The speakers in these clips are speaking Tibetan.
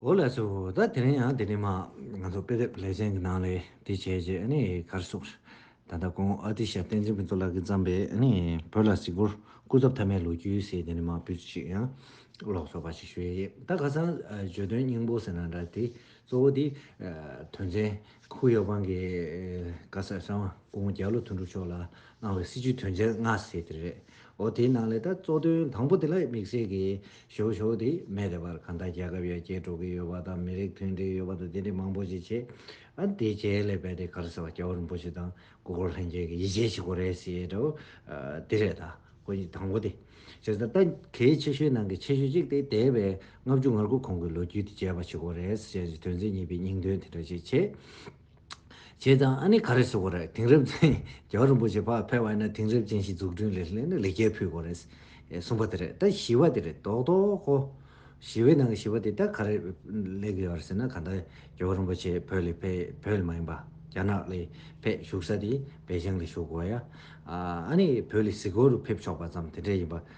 ཨོ་ལས་སོ་ད་དེ་རིང་ཡང་དེ་རིང་མ་ང་ཚོ་དཔེ་དེབ་ལེ་ཚན་གྱི་ནང་ལས་དེ་བྱས་རྗེས་ཨ་ནི་གར་སོང། ད་ལྟ་ཁོང་ཨ་ཏི་ཤ་བསྟན་འཛིན་ཕུན་ཚོགས་ལགས་ཀྱིས་བརྩམས་པའི་ཨ་ནི་བོད་ལ་གཟིགས་སྐོར་སྐུ་ཚབ་ཐ་མའི་ལོ་རྒྱུས་ཟེར་དེ་ནས་མ་བུ་ཅིག་ཡང་ཀློག་ཆོག་པ་ཞིག་ཞུས་ཡོད་ད་ཁ་སང་བརྗོད་དོན་སྙིང་པོ་ཟེར་ན་འདྲ་དེ་གཙོ་བོ་དེ་དོན་ཚན་ཁུག་ཡོག་པང་གི་བཀའ་ཟེར་ས་བ་སྐུ་ངོ་རྒྱལ་ལོ་དོན་གྲུབ་མཆོག་ལ་གནང་བའི་སྲིད་བྱུས་དོན་ཚན་ལྔ་ཟེར་དེ་རེད་འོ་དེའི་ནང་ལས་ད་གཙོ་དོན་དང་པོ་དེ་ལ་དམིགས་བསལ་གྱི་ཞོག་ཞོག་དེ་མེད་དེ་བར་གང་ལྟར་རྒྱལ་ཁབ་ཡར་རྒྱས་འགྲོ་གི་ཡོད་པ་དང་མི་རིགས་མཐུན་སྒྲིལ་ཡོད་པ་དང་དེ་འདྲའི་མང་པོ་ཞིག་བྱས། ཨ་དེའི་རྗེས་ལས་པད་དེ་གར་ཟེར་བ་སྐྱ་བོ་རིན་པོ་ཆེ་དང་སྐུ་འཁོར་ལྷན་རྒྱས་ཀྱི་ཡིད་ཆེས་བྱེད་སྒོ་རེད་ཟེར་དོ། དེ་རེད་ད། ཁོ་གཉིས་དང་པོ་དེ། ཟེར་ད། ད་གལ་ཆེ་ཤོས་ནང་གི་ཆེ་ཤོས་གཅིག་དེ་འདས་པའི་ལྔ་བཅུ་ང་དགུ་གོང་གི་ལོ་རྒྱུས་དེ་བྱས་པ་བྱེད་སྒོ་རེད་ཟེར་བྱས་ནས་དོན་ཚན་གཉིས་པའི་སྙིང་དོན་དེ་འདྲ་ཞིག་བྱས། བྱས་ཙང་ཨ་ནི་ག་རེ་བྱེད་དགོས་རེད་དེང་རབས་ཅན་རྒྱལ་བ་རིན་པོ་ཆེ་ཕ་ཕེབས་བ་ཡིན་ན་དེང་རབས་ཅན་ཞིག་འཛུགས་སྐྲུན་ལས་སླད་ནི་ལེགས་སྐྱེས་ཕུལ་དགོས་རེད། གསུངས་པ་དེ་རེད་ད་ཞི་བ་དེ་རེད་དོག་དོག་གོ། ཞི་བའི་ནང་གི་ཞི་བ་དེ་ད་ག་རེ་ལེགས་ཡོད་རེད་ཟེར་ན་ག་ད་རྒྱལ་བ་རིན་པོ་ཆེ་བོད་ལས་ཕེ་བོད་ལས་མ་ཡིན་པ་རྒྱ་ནག་ལས་ཕེ་བཞུགས་ས་དེ་བལ་བྱང་ལས་བཞུགས་དགོས་ཡ། ཨ་ནི་བོད་ལས་སི་གོ་རུ་ཕེབས་ཆོག་པ་ཙམ་དེ་འདྲས་ཡིན་པ་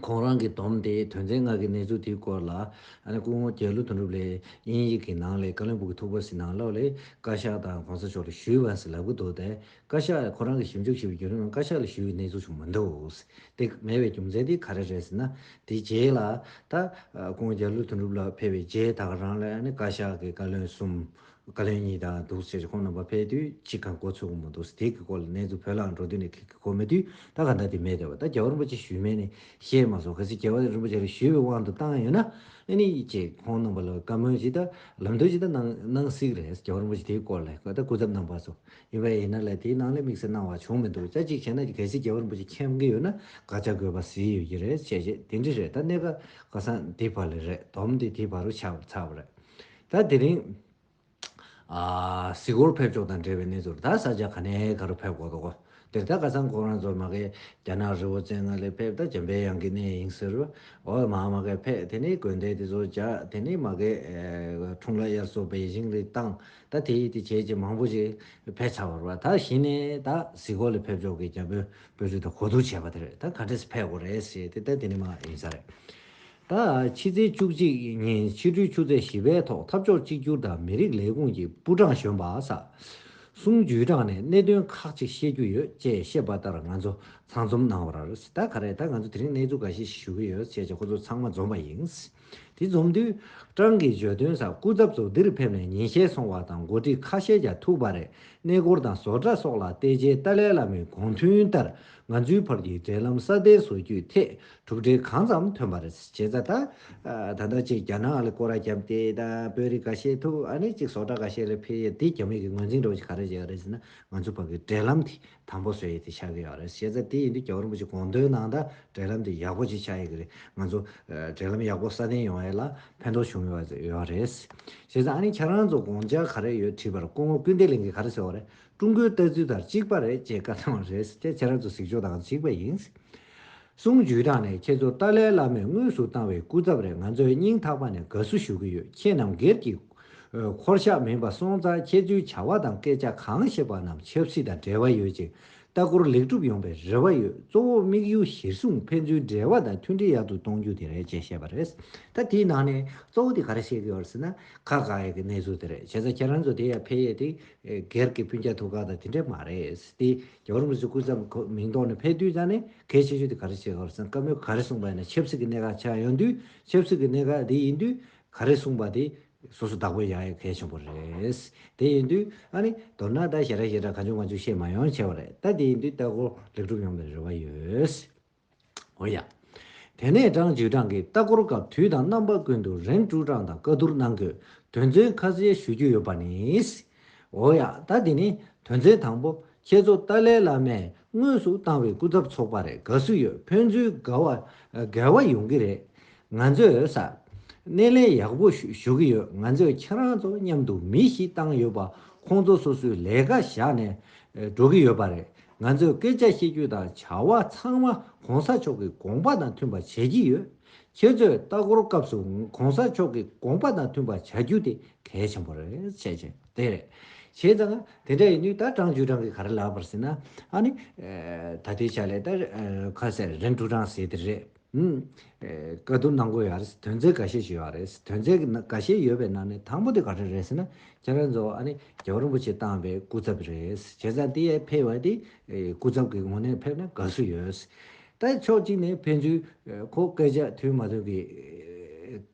ཁོང་རང་གིས་བསྡོམས་ཏེ་དོན་ཚན་ལྔ་གི་གནས་ཚུལ་དེའི་སྐོར་ལ། སྐུ་ངོ་རྒྱལ་ལོ་དོན་གྲུབ་ལས་དབྱིན་ཡིག་གི་ནང་ལས་ཀ་ལིང་བུ་གི་ཐུག་པ་ཟི་ནང་ལོག་ལས་བཀའ་ཤག་དང་གོང་ས་མཆོག་ལ་ཞུས་བ་ཟི་ལབ་གི་འདུག་སྟེ། བཀའ་ཤག་ལས་ཁོང་རང་གིས་ཞིབ་འཇུག་བྱས་པའི་བརྒྱུད་རིམ་ནང་བཀའ་ཤག་ལ་ཞུས་བའི་གནས་ཚུལ་བྱུང་མི་འདུག་སྟེ། མེད་པའི་རྒྱུ་མཚན་དེ་ག་རེ་རེད་ཟེར་ན། དེའི་རྗེས་ལ། ད། སྐུ་ངོ་རྒྱལ་ལོ་དོན་གྲུབ་ལགས་ཕེབས་པའི་རྗེས་ད་ག་རང་ལ་བཀའ་ཤག་གི་བཀའ་བློན་གསུམ། བཀའ་བློན་གཉིས་དང་འདུག་ཟེར་གྱི་ཁོང་རྣམ་པ་ཕེབས་དུས་གཅིག་གམ་གོ་ཚོད་ཀུན་མོ་འདུག་ཟེར་དེ་གི་སྐོར་ལ་གནས་ཚུལ་བོད་ལྭང་འགྲོ་དུས་ནས་ཁྱེད་ཀྱི་གོ་མེད་དུས་ད་ག་ཟླ་དེ་མེད་བསྡད་པ་ད་རྒྱལ་བ་རིན་པོ་ཆེ་ཞུས་མེད་ནས་ཞེས་མ་སོང་གལ་སྲིད་རྒྱལ་བ་རིན་པོ་ཆེ་ལ་ཞུས་པའི་དབང་དུ་བཏང་ཡོད་ན་ཨེ་ནི་ཅེས་ཁོང་རྣམ་པ་ལ་བཀའ་མོལ་ཅིག་ད་ལམ་སྟོན་ཅིག་ད་གནང་གནང་སིག་རེད་རྒྱལ་བ་རིན་པོ་ཆེ་དེ་གི་སྐོར་ལས་ད་སྐུ་ཚབ་གནང་བ་སོགས་ཡིན་པ་ཡིན་ན་ལས་དེ་གནང་ལས་དམིགས་བསལ་གནང་བ་བྱུང་མི་འདུག་ཅག་གཅིག་བྱས་ན་གལ་སྲིད་རྒྱལ་བ་རིན་པོ་ཆེ་མཁྱེན་གི་ཡོད་ན་དགག་བྱ་དགོས་པ་ཟིག་ཡོད་ཀྱི་རེད་བྱས་རྗེས་དེ་འདྲི་རེད་ད་གནས་ཀ་ཀ་སང་དེ་བར་ལས་རེད་དོམ་དེ་དེ་བར་རུ་ཆགས་ཚར་བ་རེད། ད་དེ་རིང། གཟིགས་སྐོར་ཕེབས་ཕྱོགས་དང་འབྲེལ་བའི་གནས་ཚུལ་ད་ས་ཆ་ག་ནས་ག་རུ་ཕེབས་དགོས་འདུག་འདིར་ད་ག་ས་མགོ་རང་ཚོ་མ་གས་རྒྱ་ནག་རི་བོ་ཙན་ང་ལས་ཕེབས་ད་བྱམས་པའི་གཡང་གི་གནས་ཡིན་ཟེར། འོ་མ་མ་གས་ཕེ་དེ་ནི་དགོན་སྡེ་དེ་ཚོ་བྱ་དེ་ནི་མ་གས། འཁྲུངས་ལ་དབྱར་སོ་བེ་ཞིང་རི་བཏང་ད་དེ་ཡིས་དེ་བྱས་ཅི་མང་པོ་ཞིག་ཕེ་ཚར་བར་བ་ད་གཞི་ནས་ད་གཟིགས་སྐོར་ལ་ཕེབས་ཕྱོགས་ཀྱི་རྒྱ་བོད་བོད་རིགས་ད་གོ་བསྡུར་བྱས་པ་དེར་ད་ག་འདྲས་སུ་ཕེབས་དགོས་རེད་ཟེར་ཏེ་ད་དེ་ནི་མ་ཡིན་ས་རེད། ད་ཕྱི་ཚེས་བཅུ་གཅིག་ཉིན་ཕྱི་དྲོའི་ཆུ་ཚོད་བཞི་པའི་ཐོག་འཐབ་ཕྱོགས་གཅིག་གྱུར་དང་མི་རིགས་ལས་ཁུངས་ཀྱི་པུའུ་ཀྲང་གཞོན་པ་ས་སུང་ཇུས་ཀྲང་ནས་གནད་དོན་ཁག་ཅིག་བཤད་རྒྱུ་ཡོད་ཅེས་བཤད་པ་ལྟར་ང་ཚོ་ཚང་འཛོམས་གནང་བ་རེད་ད་ག་རེད་ད་ང་ཚོ་དེ་རིང་གནས་ཚུལ་ག་ཞིག་ཞུ་གི་ཡོད་བྱས་རྗེས་ཁོ་ཚོ་ཚང་མ་འཛོམས་པ་ཡིན། དེ་འཛོམས་དུས་ཀྲང་གིས་བརྗོད་དོན་ས་སྐུ་ཚབ་ཚོ་འདིར་ཕེབས་ནས་ཉིན་ཤས་སོང་བ་དང་འགོ་ཁྲིད་ཁ་ཤས་ཀྱང་ཐུག་པ་རེད་གནས་སྐོར་དང་བཟོ་གྲྭ་སོགས་ལ་བལྟས་རྗེས་ཏཱ་ལའི་བླ་མའི་དགོངས་མཐུན་ལྟར་ང་ཚོའི་བར་གྱི་འབྲེལ་ལམ་སྲ་བརྟན་བཟོ་རྒྱུའི་ཐད་གྲུབ་འབྲས་གང་ཙམ་ཐོན་པ་རེད། བྱས་ཙང་ད། ད་ལྟ་ཅིག་རྒྱ་ནག་ལ་སྐོར་ར་བརྒྱབ་སྟེ་ད་བོད་རིགས་འགའ་ཤས་ཐུག་ཨ་ནི་ཅིག་ཟོག་གྲྭ་འགའ་ཤས་ལ་ཕེབས་ཡས་དེ་རྒྱ་མིག་གི་ངོས་འཛིན་འགྲོ་ཅིག་ག་རེ་བྱས་ཡོད་རེད་ཟེར་ན་ང་ཚོ་བར་གི་འབྲེལ་ལམ་དེ་དམ་པོ་བཟོས་ཡས་དེ་ཆགས་ཀྱི་ཡོད་རེད། བྱས་ཙང་དེ་ཡིན་དུས་རྒྱ་བོད་རིན་པོ་ཆེ་དགོངས་དོན་ནང་ད་འབྲེལ་ལམ་དེ་ཡག་པོ་ཅིག་ཆགས་ཡས་ཀྱི་རེད། ང་ཚོ། འབྲེལ་ལམ་ཡག་པོ་སྲ་བརྟན་ཡོང་ཡས་ལ་ཕན་ཐོག་བྱུང་ཡོད་ཡོད་རེད། བྱས་ཙང་ཨ་ནི་ཁྱེད་རང་ཚོ་དགོངས་འཇགས་ག་རེ་ཡོད་དྲིས་པར་སྐུ་ངོ་སྐུལ་འདེད་གླིང་གིས་ག་རེ་ཟེར་བ་རེད། ཀྲུང་གོའི་ལྟ་ཚུལ་དང་གཅིག་པ་རེད་ཅེས་བཀའ་གནང་བ་རེད། དེ་ཁྱེད་རང་ཚོ་གཟིགས་ཕྱོགས་དང་གཅིག་པ་ཡིན། གསུང་ཇུས་དྲངས་ནས་ཁྱེད་ཚོར་ཏཱ་ལའི་བླ་མས་དངོས་སུ་བཏང་བའི་སྐུ་ཚབ་རེད་ང་ཚོས་སྙིང་ཐག་པ་ནས་དགའ་བསུ་ཞུ་གི་ཡོད་ཁྱེད་རྣམས་སྒེར་གྱི། འཁོར་ཞག་མིན་པ་སོང་ཙང་ཁྱེད་ཚོའི་བྱ་བ་དང་སྐད་ཆ་གང་བཤད་པ་རྣམས་ཆབ་སྲིད་དང་འབྲེལ་བ་ཡོད་ཅིང་ལྟ་སྐོར་ལེགས་གྲུབ་ཡོང་པའི་རེ་བ་ཡོད་གཙོ་བོ་དམིགས་ཡུལ་གཞིར་བཟུང་ཕན་ཚུན་འབྲེལ་བ་དང་མཐུན་སྒྲིལ་ཡག་ཏུ་གཏོང་རྒྱུ་དེ་རེད་ཅེས་བཤད་པ་རེད། ད་དེའི་ནང་ནས་གཙོ་བོ་དེ་ག་རེ་བཤད་ཀྱི་ཡོད་ཟེར་ན། ཁ་ག་ཡ་གི་གནས་ཚུལ་དེ་རེད་བྱས་ཙང་ཁྱེད་རང་ཚོ་དེ་ཡར་འཕེལ་ཡས་ཏེ་སྒེར་གྱི་སྤུན་ཆེད་ཐུགས་ཁག་དང་དེ་འདྲས་མ་རེད། དེ་རྒྱ་གར་མི་ཚོས་སྐུ་ཚབ་ཁོ་མིང་ཐོག་ནས་ཕེབས་དུས་ཙང་ནས་གལ་ཆེ་ཤོས་དེ་ག་རེ་བྱེད་དགོས་སམ་སྐབས་མོས་ག་རེ་གསུངས་པ་ཡིན་ན་ཆབ་སྲིད་ཀྱི་གནད་འགག་ཆགས་ཡོང་དུས་ཆབ་སྲིད་ཀྱི་གནད་འགག་དེ་ཡིན་དུས་ག་རེ་གསུངས་པ་དེ་སོ་སོ་བདག་པོ་བཞག་ཡོད་གལ་ཆེན་པོ་རེད། དེ་ཡིན་དུས་ཨ་ནི་མདོར་ན་ད་ཞེ་དྲག་ཞེ་དྲག་ག་ཅུང་ག་ཅུང་བཤད་མ་ཡོང་ཆེ་བ་རེད་ད་དེ་ཡིན་དུས་ལྟ་སྐོར་ལེགས་གྲུབ་ཡོང་པའི་རེ་བ་ཡོད། འོ་ཡ། དེ་ནས་སྤྲང་བྱུས་སྤྲང་གི་ལྟ་སྐོར་སྐབས་དུས་དང་རྣམ་པ་ཀུན་ཏུ་རེང་སྤྲུག་སྤྲང་དང་བཀའ་བསྡུར་གནང་དགོས་དོན་ཚུན་ཁ་གསལ་ཞུ་རྒྱུ་ཡོད་པ་ནི། འོ་ཡ། ད་དེ་ནི་དོན་ཚན་དང་པོ་ཁྱེད་ཚོ་ཏཱ་ལའི་བླ་མས་དངོས་སུ་བཏང་བའི་སྐུ་ཚབ་ཚོགས་པ་རེད་དགའ་བསུ་ཡོད་ཕན་ཚུན་དགའ་བ་ཡོང་གི་རེད། ང་ཚོས་ས་སྣེ་ལེན་ཡག་པོ་ཞུ་གི་ཡོད་ང་ཚོས་ཁྱེད་རང་ཚོ་མཉམ་དུ་མི་བཞི་བཏང་ཡོད་པ་ཁོང་ཚོ་སོ་སོའི་ལས་ཀ་བཞག་ནས་འགྲོ་གི་ཡོད་པ་རེད་ང་ཚོས་སྐད་ཆ་བཤད་རྒྱུ་དང་བྱ་བ་ཚང་མ་གོང་ས་མཆོག་གི་དགོངས་པ་དང་མཐུན་པ་བྱེད་ཀྱི་ཡོད། ཁྱེད་ཚོས་ལྟ་སྐོར་སྐབས་སུ་གོང་ས་མཆོག་གི་དགོངས་པ་དང་མཐུན་པ་བྱ་རྒྱུ་དེ་གལ་ཆེན་པོ་རེད་བཤད་བྱས་དེ་རེད། བྱས་ཙང་དེ་འདྲ་ཡིན་དུས་ད་ཀྲང་ཅུས་ཀྲང་གིས་ག་རེ་ལབ་པར་ཟེར་ན། ཨ་ནི། ད་ལྟའི་ཆ་ལས་ད། ཁ་ཟེར་རིན་ཀྲུའུ་ཀྲང་ཟེར་དེ་རེད། བཀའ་བསྡུར་གནང་དགོས་ཡ་རེད་དོན་ཚན་ག་ཤེད་ཅིག་ཡོད་རེད་ཟེར་དོན་ཚན་ག་ཤེད་ཡོད་པའི་ནང་ནས་དང་པོ་དེ་ག་རེ་རེད་ཟེར་ན་ཁྱེད་རང་ཚོ་ཨ་ནི་རྒྱལ་བ་རིན་པོ་ཆེ་བཏང་པའི་སྐུ་ཚབ་རེད་བྱས་ཙང་དེ་ཡས་ཕེབས་བ་དེ་སྐུ་ཚབ་ཀྱི་ངོ་ནས་ཕེབས་ན་དགའ་བསུ་ཡོད། ད་ཕྱོགས་གཅིག་ནས་ཕན་ཚུན་ཁོ་སྐད་ཆ་མཐུན་མ་ཐུན་གྱི་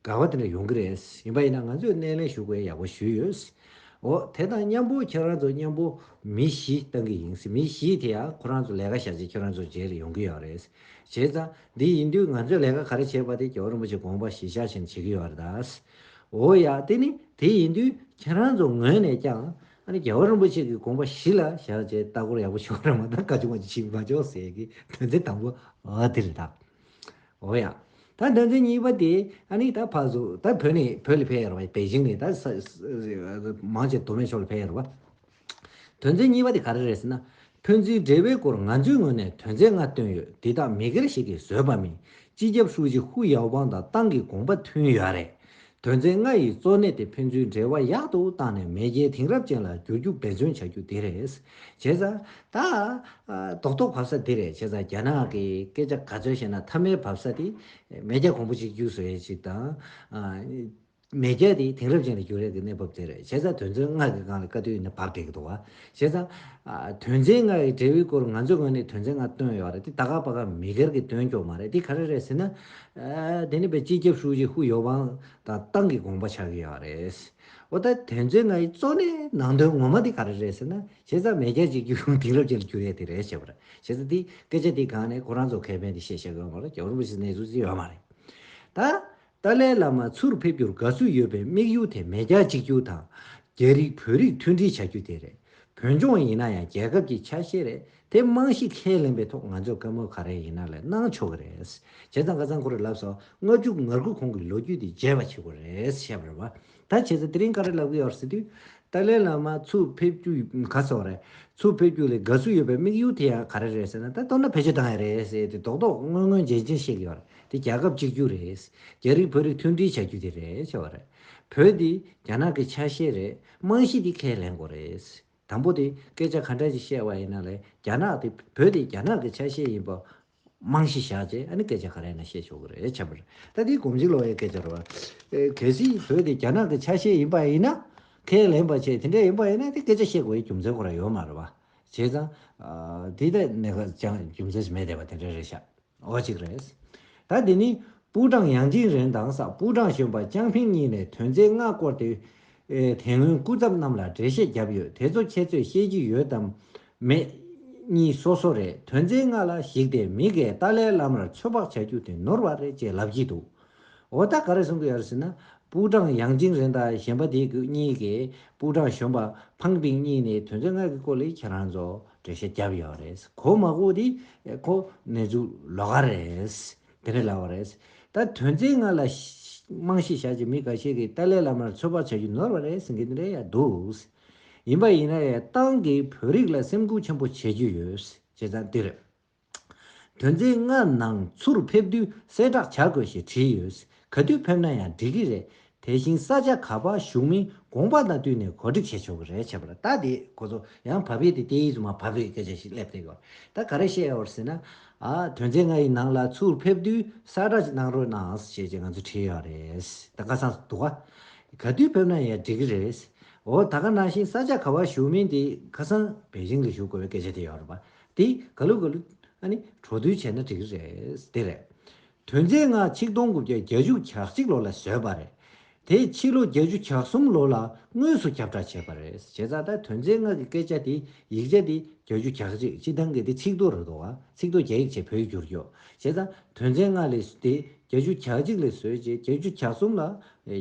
དགའ་བ་དེ་འདྲ་ཡོང་གི་རེད་ཡིན་པ་ཡིན་ན་ང་ཚོས་སྣེ་ལེན་ཞུ་དགོས་ཡག་པོ་ཞུས་ཡོད། འོ་དེ་དང་མཉམ་པོ་ཁྱེད་རང་ཚོ་མཉམ་པོ་མི་བཞི་བཏང་གི་ཡིན་མི་བཞི་དེ་ཡང་ཁོ་རང་ཚོ་ལས་ཀ་བྱ་ཆེད་ཁྱེད་རང་ཚོ་རྗེས་རེ་ཡོང་གི་ཡོད་རེད། བྱས་ཙང། འདི་ཡིན་དུས་ང་ཚོས་ལས་ཀ་ག་རེ་བྱས་པ་དེ་ཇོ་བོ་རིན་པོ་ཆེས་དགོངས་པ་གཞིས་ཆགས་བཞིན་བྱེད་ཀྱི་ཡོད་རེད་ད། འོ་ཡ། དེ་ནི་དེ་ཡིན་དུས་ཁྱེད་རང་ཚོ་ངོས་ནས་ཀྱང། ཨ་ནི་ཇོ་བོ་རིན་པོ་ཆེ་གི་དགོངས་པ་གཞི་ལ་བཞག་ཅེས་ལྟ་སྐོར་ཡག་པོ་ཞུ་བ་རེད་མ་གཏོགས་བཀའ་བྱུང་བ་ཞིག་མ་འཇོག་ཟེར་གྱི་དོན་ཚན་དང་པོ་དེ་རེད་ད། འོ་ཡ། ད་དོན་ཚན་གཉིས་པ་དེ་ཨ་ནི་ད་ཕ་གཟུགས་ད་བོད་ནས་བོད་ལ་ཕེབས་ཡོད་རེད་པ། པེ་ཅིང་ནས་ད། མང་ཆེ་མདོ་སྨད་ཕྱོགས་ལ་ཕེབས་ཡོད་རེད་པ། དོན་ཚན་གཉིས་པ་དེ་ག་རེ་རེད་ཟེར་ན། ཕན་ཚུན་འབྲེལ་བའི་སྐོར་ང་ཚོའི་ངོས་ནས་དོན་ཚན་ལྔ་བཏོན་ཡོད་འདི་དག་མི་སྒེར་ཞིག་གིས་བཟོས་པ་མིན་སྤྱི་ཁྱབ་ཧྲུའུ་ཅི་ཧུའུ་ཡའོ་པང་དང་ཏང་གི་དགོངས་པ་མཐུན་ཡོད་རེད། དོན་ཚན་ལྔ་ཡི་གཙོ་གནད་དེ་ཕན་ཚུན་འབྲེལ་བ་ཡག་ཏུ་བཏང་ནས་མེས་རྒྱལ་དེང་རབས་ཅན་ལ་བསྒྱུར་རྒྱུ་འབད་བརྩོན་བྱ་རྒྱུ་དེ་རེད། བྱས་ཙང། ད། རྡོག་རྡོག་བབས་ས་དེ་རེད་བྱས་ཙང་རྒྱ་ནག་གི་སྐད་ཆ་ག་ཚོད་བཤད་ན་མཐའ་མའི་བབས་ས་དེ། མེས་རྒྱལ་གོང་བུ་གཅིག་གྱུར་བཟོ་ཡས་ཅིག་དང། མེས་རྒྱལ་དེ་དེང་རབས་ཅན་དུ་འགྱུར་རེས་ཀྱི་གནས་བབ་དེར་བྱས་ཙང་དོན་ཚན་ལྔ་གི་སྒང་ལ་བཀའ་བསྡུར་ཡིན་ན་བབ་འགྲིག་གི་འདུག་བྱས་ཙང། དོན་ཚན་ལྔ་ཡི་འབྲེལ་བའི་སྐོར་ང་ཚོའི་ངོས་ནས་དོན་ཚན་ལྔ་བཏོན་ཡོད་རེད་དེ་ད་ག་པ་ག་མི་སྒེར་གྱི་དོན་སྐྱོང་མ་རེད་དེ་ག་རེ་རེད་ཟེར་ན། དེ་ནི་བའི་སྤྱི་ཁྱབ་ཧྲུའུ་ཅི་ཧུའུ་ཡོ་ཝང་དང་ཏང་གི་དགོངས་པ་ཆགས་ཀྱི་ཡོད་རེད། འོ་ད་དོན་ཚན་ལྔ་ཡི་གཙོ་གནད་ནང་དོན་ངོ་མ་དེ་ག་རེ་རེད་ཟེར་ན། བྱས་ཙང་མེས་རྒྱལ་གཅིག་གྱུར་དེང་རབས་ཅན་དུ་འགྱུར་རེས་དེ་རེད་བྱས་པ་རེད་བྱས་ཙང་དེ་སྐད་ཆ་དེའི་སྒང་ནས་ཁོ་རང་ཚོ་ཁེ་ཕན་དེ་བཤད་བྱེད་དགོས་ཡོད་མ་རེད་རྒྱ་གར་རིན་པོ་ཆེ་གནས་ཚུལ་དེ་ཡོད་མ་རེད། ད། ཏཱ་ལའི་བླ་མ་ཚུར་ཕེབས་རྒྱུར་དགའ་བསུ་ཡོད་པའི་དམིགས་ཡུལ་དེ་མེས་རྒྱལ་གཅིག་གྱུར་དང། རྒྱ་རིགས་བོད་རིགས་མཐུན་སྒྲིལ་བྱ་རྒྱུ་དེ་རེད། བོད་ལྗོངས་ཡིན་ན་ཡང་རྒྱལ་ཁབ་ཀྱི་ཆ་ཤས་རེད་དེ་རྨང་གཞི་ཁས་ལེན་པའི་ཐོག་ང་ཚོས་བཀའ་མོལ་ག་རེ་ཡིན་ན་ལས་གནང་ཆོག་གི་རེད། བྱས་ཙང་ཁ་ཚང་ཁོ་རེ་ལབ་སོང་ལྔ་བཅུ་ང་དགུ་གོང་གི་ལོ་རྒྱུས་དེ་བརྗེད་པ་བྱེད་དགོས་རེད་བཤད་པར་བ་ད་བྱས་ཚེ་དེ་རིང་ག་རེ་ལབ་གི་ཡོད་རེད་ཟེར་དུས། ཏཱ་ལའི་བླ་མ་ཚུར་ཕེབས་རྒྱུ་ག་ཚོད་རེད། ཚུར་ཕེབས་རྒྱུ་ལས་དགའ་བསུ་ཡོད་པའི་དམིགས་ཡུལ་དེ་ཡང་ག་རེ་རེད་ཟེར་ན་ད་ལྟོ་ན་ཕེབས་རྒྱུ་བཏང་ཡ་རེད་ཟེར་དུས་རྡོག་རྡོག་སྔོན་སྔོན་རྗེན་རྗེན་བཤད་གི་ཡོད་རེད་དེ་རྒྱལ་ཁབ་གཅིག་གྱུར་རེད། རྒྱ་རིགས་བོད་རིགས་མཐུན་སྒྲིལ་བྱ་རྒྱུ་དེ་རེད་བྱས་བ་རེད། བོད་འདི་རྒྱ་ནག་གི་ཆ་ཤས་རེད་རྨང་གཞི་འདི་ཁས་ལེན་དགོས་རེད། དང་པོ་དེ་སྐད་ཆ་ག་འདྲ་ཞིག་བཤད་བ་ཡིན་ན་ལས་རྒྱ་ནག་དེ་བོད་དེ་རྒྱ་ནག་གི་ཆ་ཤས་ཡིན་པ་རྨང་གཞི་བཞག་ཅེས་ཨ་ནི་སྐད་ཆ་ག་རེ་ན་བཤད་ཆོག་གི་རེད་ཁྱབ་པར་ད་ལྟའི་གོམས་གཤིས་ལོག་ཡའི་སྐད་ཆ་རེད་བ། གལ་སྲིད་བོད་དེ་རྒྱ་ནག་གི་ཆ་ཤས་ཡིན་པ་ཡིན་ན། ཁས་ལེན་པ་ཆེད་དེ་འདྲ་ཡིན་པ་ཡིན་ན་དེ་སྐད་ཆ་བཤད་དགོས་ཡའི་རྒྱུ་མཚན་ཁོ་ར་ཡོད་མ་རེད་བ། བྱས་ཙང། དེ་ལྟ་ནས་ཁ་བྱང་རྒྱུ་མཚན་ཞིག་མེད་བསྡད་པ་དེ་འདྲ་རེད་ཤག་འོ་གཅིག་རེད། ད་འདི་ནི་པུའུ་ཀྲང་ཡཱང་ཅིན་རེན་དང་སག་པུའུ་ཀྲང་གཞོན་པ་ཅང་ཕིང་གཉིས་ནས་དོན་ཚན་ལྔ་བསྐོར་ཏེ། དེ་སྔོན་སྐུ་ཚབ་རྣམས་ལ་འགྲེལ་བཤད་བརྒྱབ་ཡོད་དེ་ཚོ་ཁྱེད་ཚོས་ཤེས་ཀྱི་ཡོད་དམ། མེད། གཉིས་སོ་སོ་རེད་དོན་ཚན་ལྔ་ལ་གཞིགས་ཏེ་མི་འགས་ཏཱ་ལའི་བླ་མར་ཚོད་དཔག་བྱ་རྒྱུ་དེ་ནོར་བ་རེད་ཅེས་ལབ་ཀྱི་འདུག་འོ་ད་ག་རེ་གསུང་གི་ཡོད་ཟེར་ན་པུའུ་ཀྲང་ཡཱང་ཅིང་རེན་དང་གཞན་པ་དེ་གཉིས་ཀྱིས་པུའུ་ཀྲང་གཞོན་པ་ཕང་པིང་གཉིས་ནས་དོན་ཚན་ལྔ་གི་སྐོར་ལས་ཁྱེད་རང་ཚོ་འགྲེལ་བཤད་བརྒྱབ་ཡོད་རེད་གོ་མ་གོ་དེ་ཁོ་ནེ་ཙུ་ལོ་ག་རེད། དེ་རེད་ལགས་བ་རེད། ད་དོན་ཚན་ལྔ་ལ། རྨང་གཞི་བཞག་ཅིང་མི་འགའ་ཤས་ཀྱིས་ཏཱ་ལའི་བླ་མར་ཚོད་དཔག་བྱ་རྒྱུ་ནོར་བ་རེད་ཟེར་གྱི་རེད་ཡ་འདུག། ཡིན་པ་ཡིན་ན་ཡང་ཏང་གིས་བོད་རིགས་ལ་སེམས་ཁུར་ཆེན་པོ་བྱེད་རྒྱུ་ཡོད། བྱས་ཙང་དེ་རེད། དོན་ཚན་ལྔ་ནང་ཚུར་ཕེབས་དུས་གསལ་བསྒྲགས་བྱ་དགོས་ཞེས་བྲིས་ཡོད། ག་དུས་ཕེབས་ན་ཡང་འགྲིག་གི་རེད། དེ་བཞིན་ས་ཆ་ག་པར་བཞུགས་མིན་དགོངས་པ་དང་བསྟུན་ནས་གོ་སྒྲིག་བྱས་ཆོག་གི་རེད་བྱས་པ་ལ་ད་དེ་ཁོ་ཚོ་ཡང་བ་བེད་དེ་སྟེ་ཡིད་དུ་མ་བབ་པའི་སྐད་ཆ་ཞིག་སླེབས་བསྡད་ཡོད། ད་ག་རེ་བཤད་ཡོད་ཟེར་ན། ཨ། དོན་ཚན་ལྔ་ཡི་ནང་ལ་ཚུར་ཕེབས་དུས་གསལ་བསྒྲགས་ཅིག་གནང་རོགས་གནང་ཞེས་ཀྱི་ང་ཚོས་བྲིས་ཡོད་རེད། ད་ཁ་སང་དུ་བ། ག་དུས་ཕེབས་ན་ཡང་འགྲིག་གི་རེད། འོ་ད་ག་ནང་བཞིན་ས་ཆ་ག་བར་བཞུགས་མིན་དེ་ཁ་སང་བེ་ཅིང་ལ་བཞུགས་དགོས་པའི་སྐད་ཆ་དེ་ཡོད་རེད་བ། དེ་ག་ལུགས་ག་ལུགས། ཨ་ནི། གྲོ་བསྡུར་བྱས་ན་འགྲིག་གི་རེད། དེ་རེད། དོན་རྫས་ལྔ་ཆིག་སྟོང་དགུ་བརྒྱ་བརྒྱ་བཅུ་གྱ་གཅིག་ལོ་ལ་བཟོས་པ་རེད། དེ་ཕྱི་ལོ་བརྒྱད་ཅུ་གྱ་གསུམ་ལོ་ལ་དངོས་སུ་ཁྱབ་བསྒྲགས་བྱས་པ་རེད། བྱས་ཙང་ད་དོན་རྫས་ལྔ་གི་སྐད་ཆ་དེ་ཡིག་ཆ་དེ་བརྒྱ་བཅུ་གྱ་གཅིག་སྤྱི་ཐང་གི་དེ་ཚིག་རྡོ་རུ་དོ། ཚིག་རྡོ་རྒྱ་ཡིག་ཆེད་བོད་ཡིག་བསྒྱུར་རྒྱུ། བྱས་ཙང་དོན་རྫས་ལྔ་ལས་དེ་བརྒྱ་བཅུ་གྱ་གཅིག་ལས་བཟོས་རྗེས་བརྒྱ་བཅུ་གྱ་གསུམ་ལ་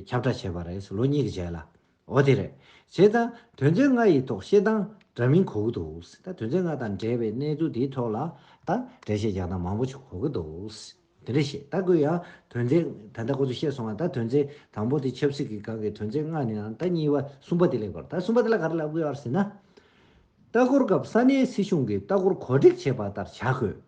ཁྱབ་བསྒྲགས་བྱས་པ་རེད། ལོ་གཉིས་ཀྱི་རྗེས་ལ། འོ་དེ་རེད། ཞེས་དང། དོན་ཚན་ལྔ་ཡི་ཐོག་ཤེས་དང་འདྲ་མིན་གོ་གི་འདུག་ད་དོན་ཚན་ལྔ་དང་འབྲེལ་བའི་གནས་ཚུལ་དེའི་ཐོག་ལ་ད་འགྲེལ་བཤད་རྒྱག་སྟངས་མང་པོ་ཞིག་གོ་གི་འདུག་དེ་འདྲ་ཞིག་ད་ཁོས་ཡང་དོན་ཚན་ད་ལྟ་ཁོ་ཚོས་བཤད་སོང་བ་ད་དོན་ཚན་དང་པོ་དེ་ཆབ་སྲིད་ཀྱི་སྒང་གི་དོན་ཚན་ལྔ་ནི་ད་གཉིས་པ་གསུམ་པ་དེ་ལས་གོ་ད་གསུམ་པ་དེ་ལ་ག་རེ་ལབ་དགོས་ཡོད་ཟེར་ན། ལྟ་སྐོར་སྐབས་ས་གནས་སྲིད་གཞུང་གིས་ལྟ་སྐོར་གོ་སྒྲིག་བྱས་པ་ལྟར་བྱ་དགོས།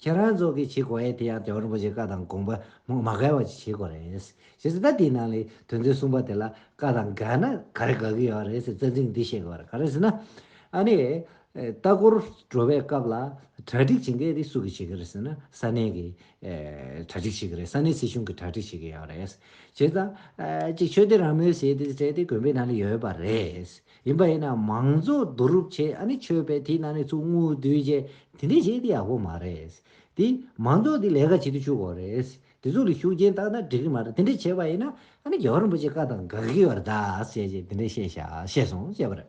ཁྱེད་རང་ཚོ་གིས་བྱེད་དགོས་ཡས་དེ་ཡང་རྒྱ་གར་རིན་པོ་ཆེའི་བཀའ་དང་དགོངས་པ་མ་འགལ་བ་ཅིག་བྱེད་དགོས་རེད། བྱས་ཚེ་ད་དེའི་ནང་ལས་དོན་ཚོའི་གསུངས་པ་དེ་ལ་བཀའ་དང་འགལ་ན་ག་རེ་དགའ་གི་ཡོད་རེད་ཟེར་བཙན་ཚིག་འདི་བཤད་དགོས་རེད་ག་རེ་ཟེར་ན། ཨ་ནི། ལྟ་སྐོར་འགྲོ་བའི་སྐབས་ལ་གྲ་སྒྲིག་བྱེད་མཁན་དེ་སུ་གིས་བྱེད་ཀྱི་རེད་ཟེར་ན་ས་གནས་ཀྱི་གྲ་སྒྲིག་བྱེད་ཀྱི་རེད་ས་གནས་སྲིད་གཞུང་གི་གྲ་སྒྲིག་བྱེད་ཀྱི་ཡོད་རེད། བྱས་ཙང། གཅིག་ཆོས་དེ་རང་མོས་བྱས་ཏེ་བྱས་ཏེ་དགོན་པའི་ནང་ལ་ཡོད་པ་རེད། ཡིན་པ་ཡིན་ན་མང་གཙོ་བསྡུ་རུབ་བྱེད་ཨ་ནི་ཆོས་པའི་དེའི་ནང་ནས་ཚུར་དངུལ་བསྡུས་བྱས་དེ་འདྲས་བྱེད་དེ་ཡག་པོ་མ་རེད། དེ་མང་གཙོ་དེ་ལས་ཀ་བྱེད་དུ་བཅུག་དགོས་རེད། དེ་ཚོ་ལ་ཤུགས་རྐྱེན་བཏང་ན་འགྲིག་གི་མ་རེད་དེ་འདྲས་བྱས་པ་ཡིན་ན་ཨ་ནི་རྒྱལ་བ་རིན་པོ་ཆེ་བཀའ་དང་དགག་གི་ཡོད་རེད་ད་ཟེར་བྱས་དེ་འདྲས་བཤད་བྱ་བཤད་སོང་བཤད་པ་རེད།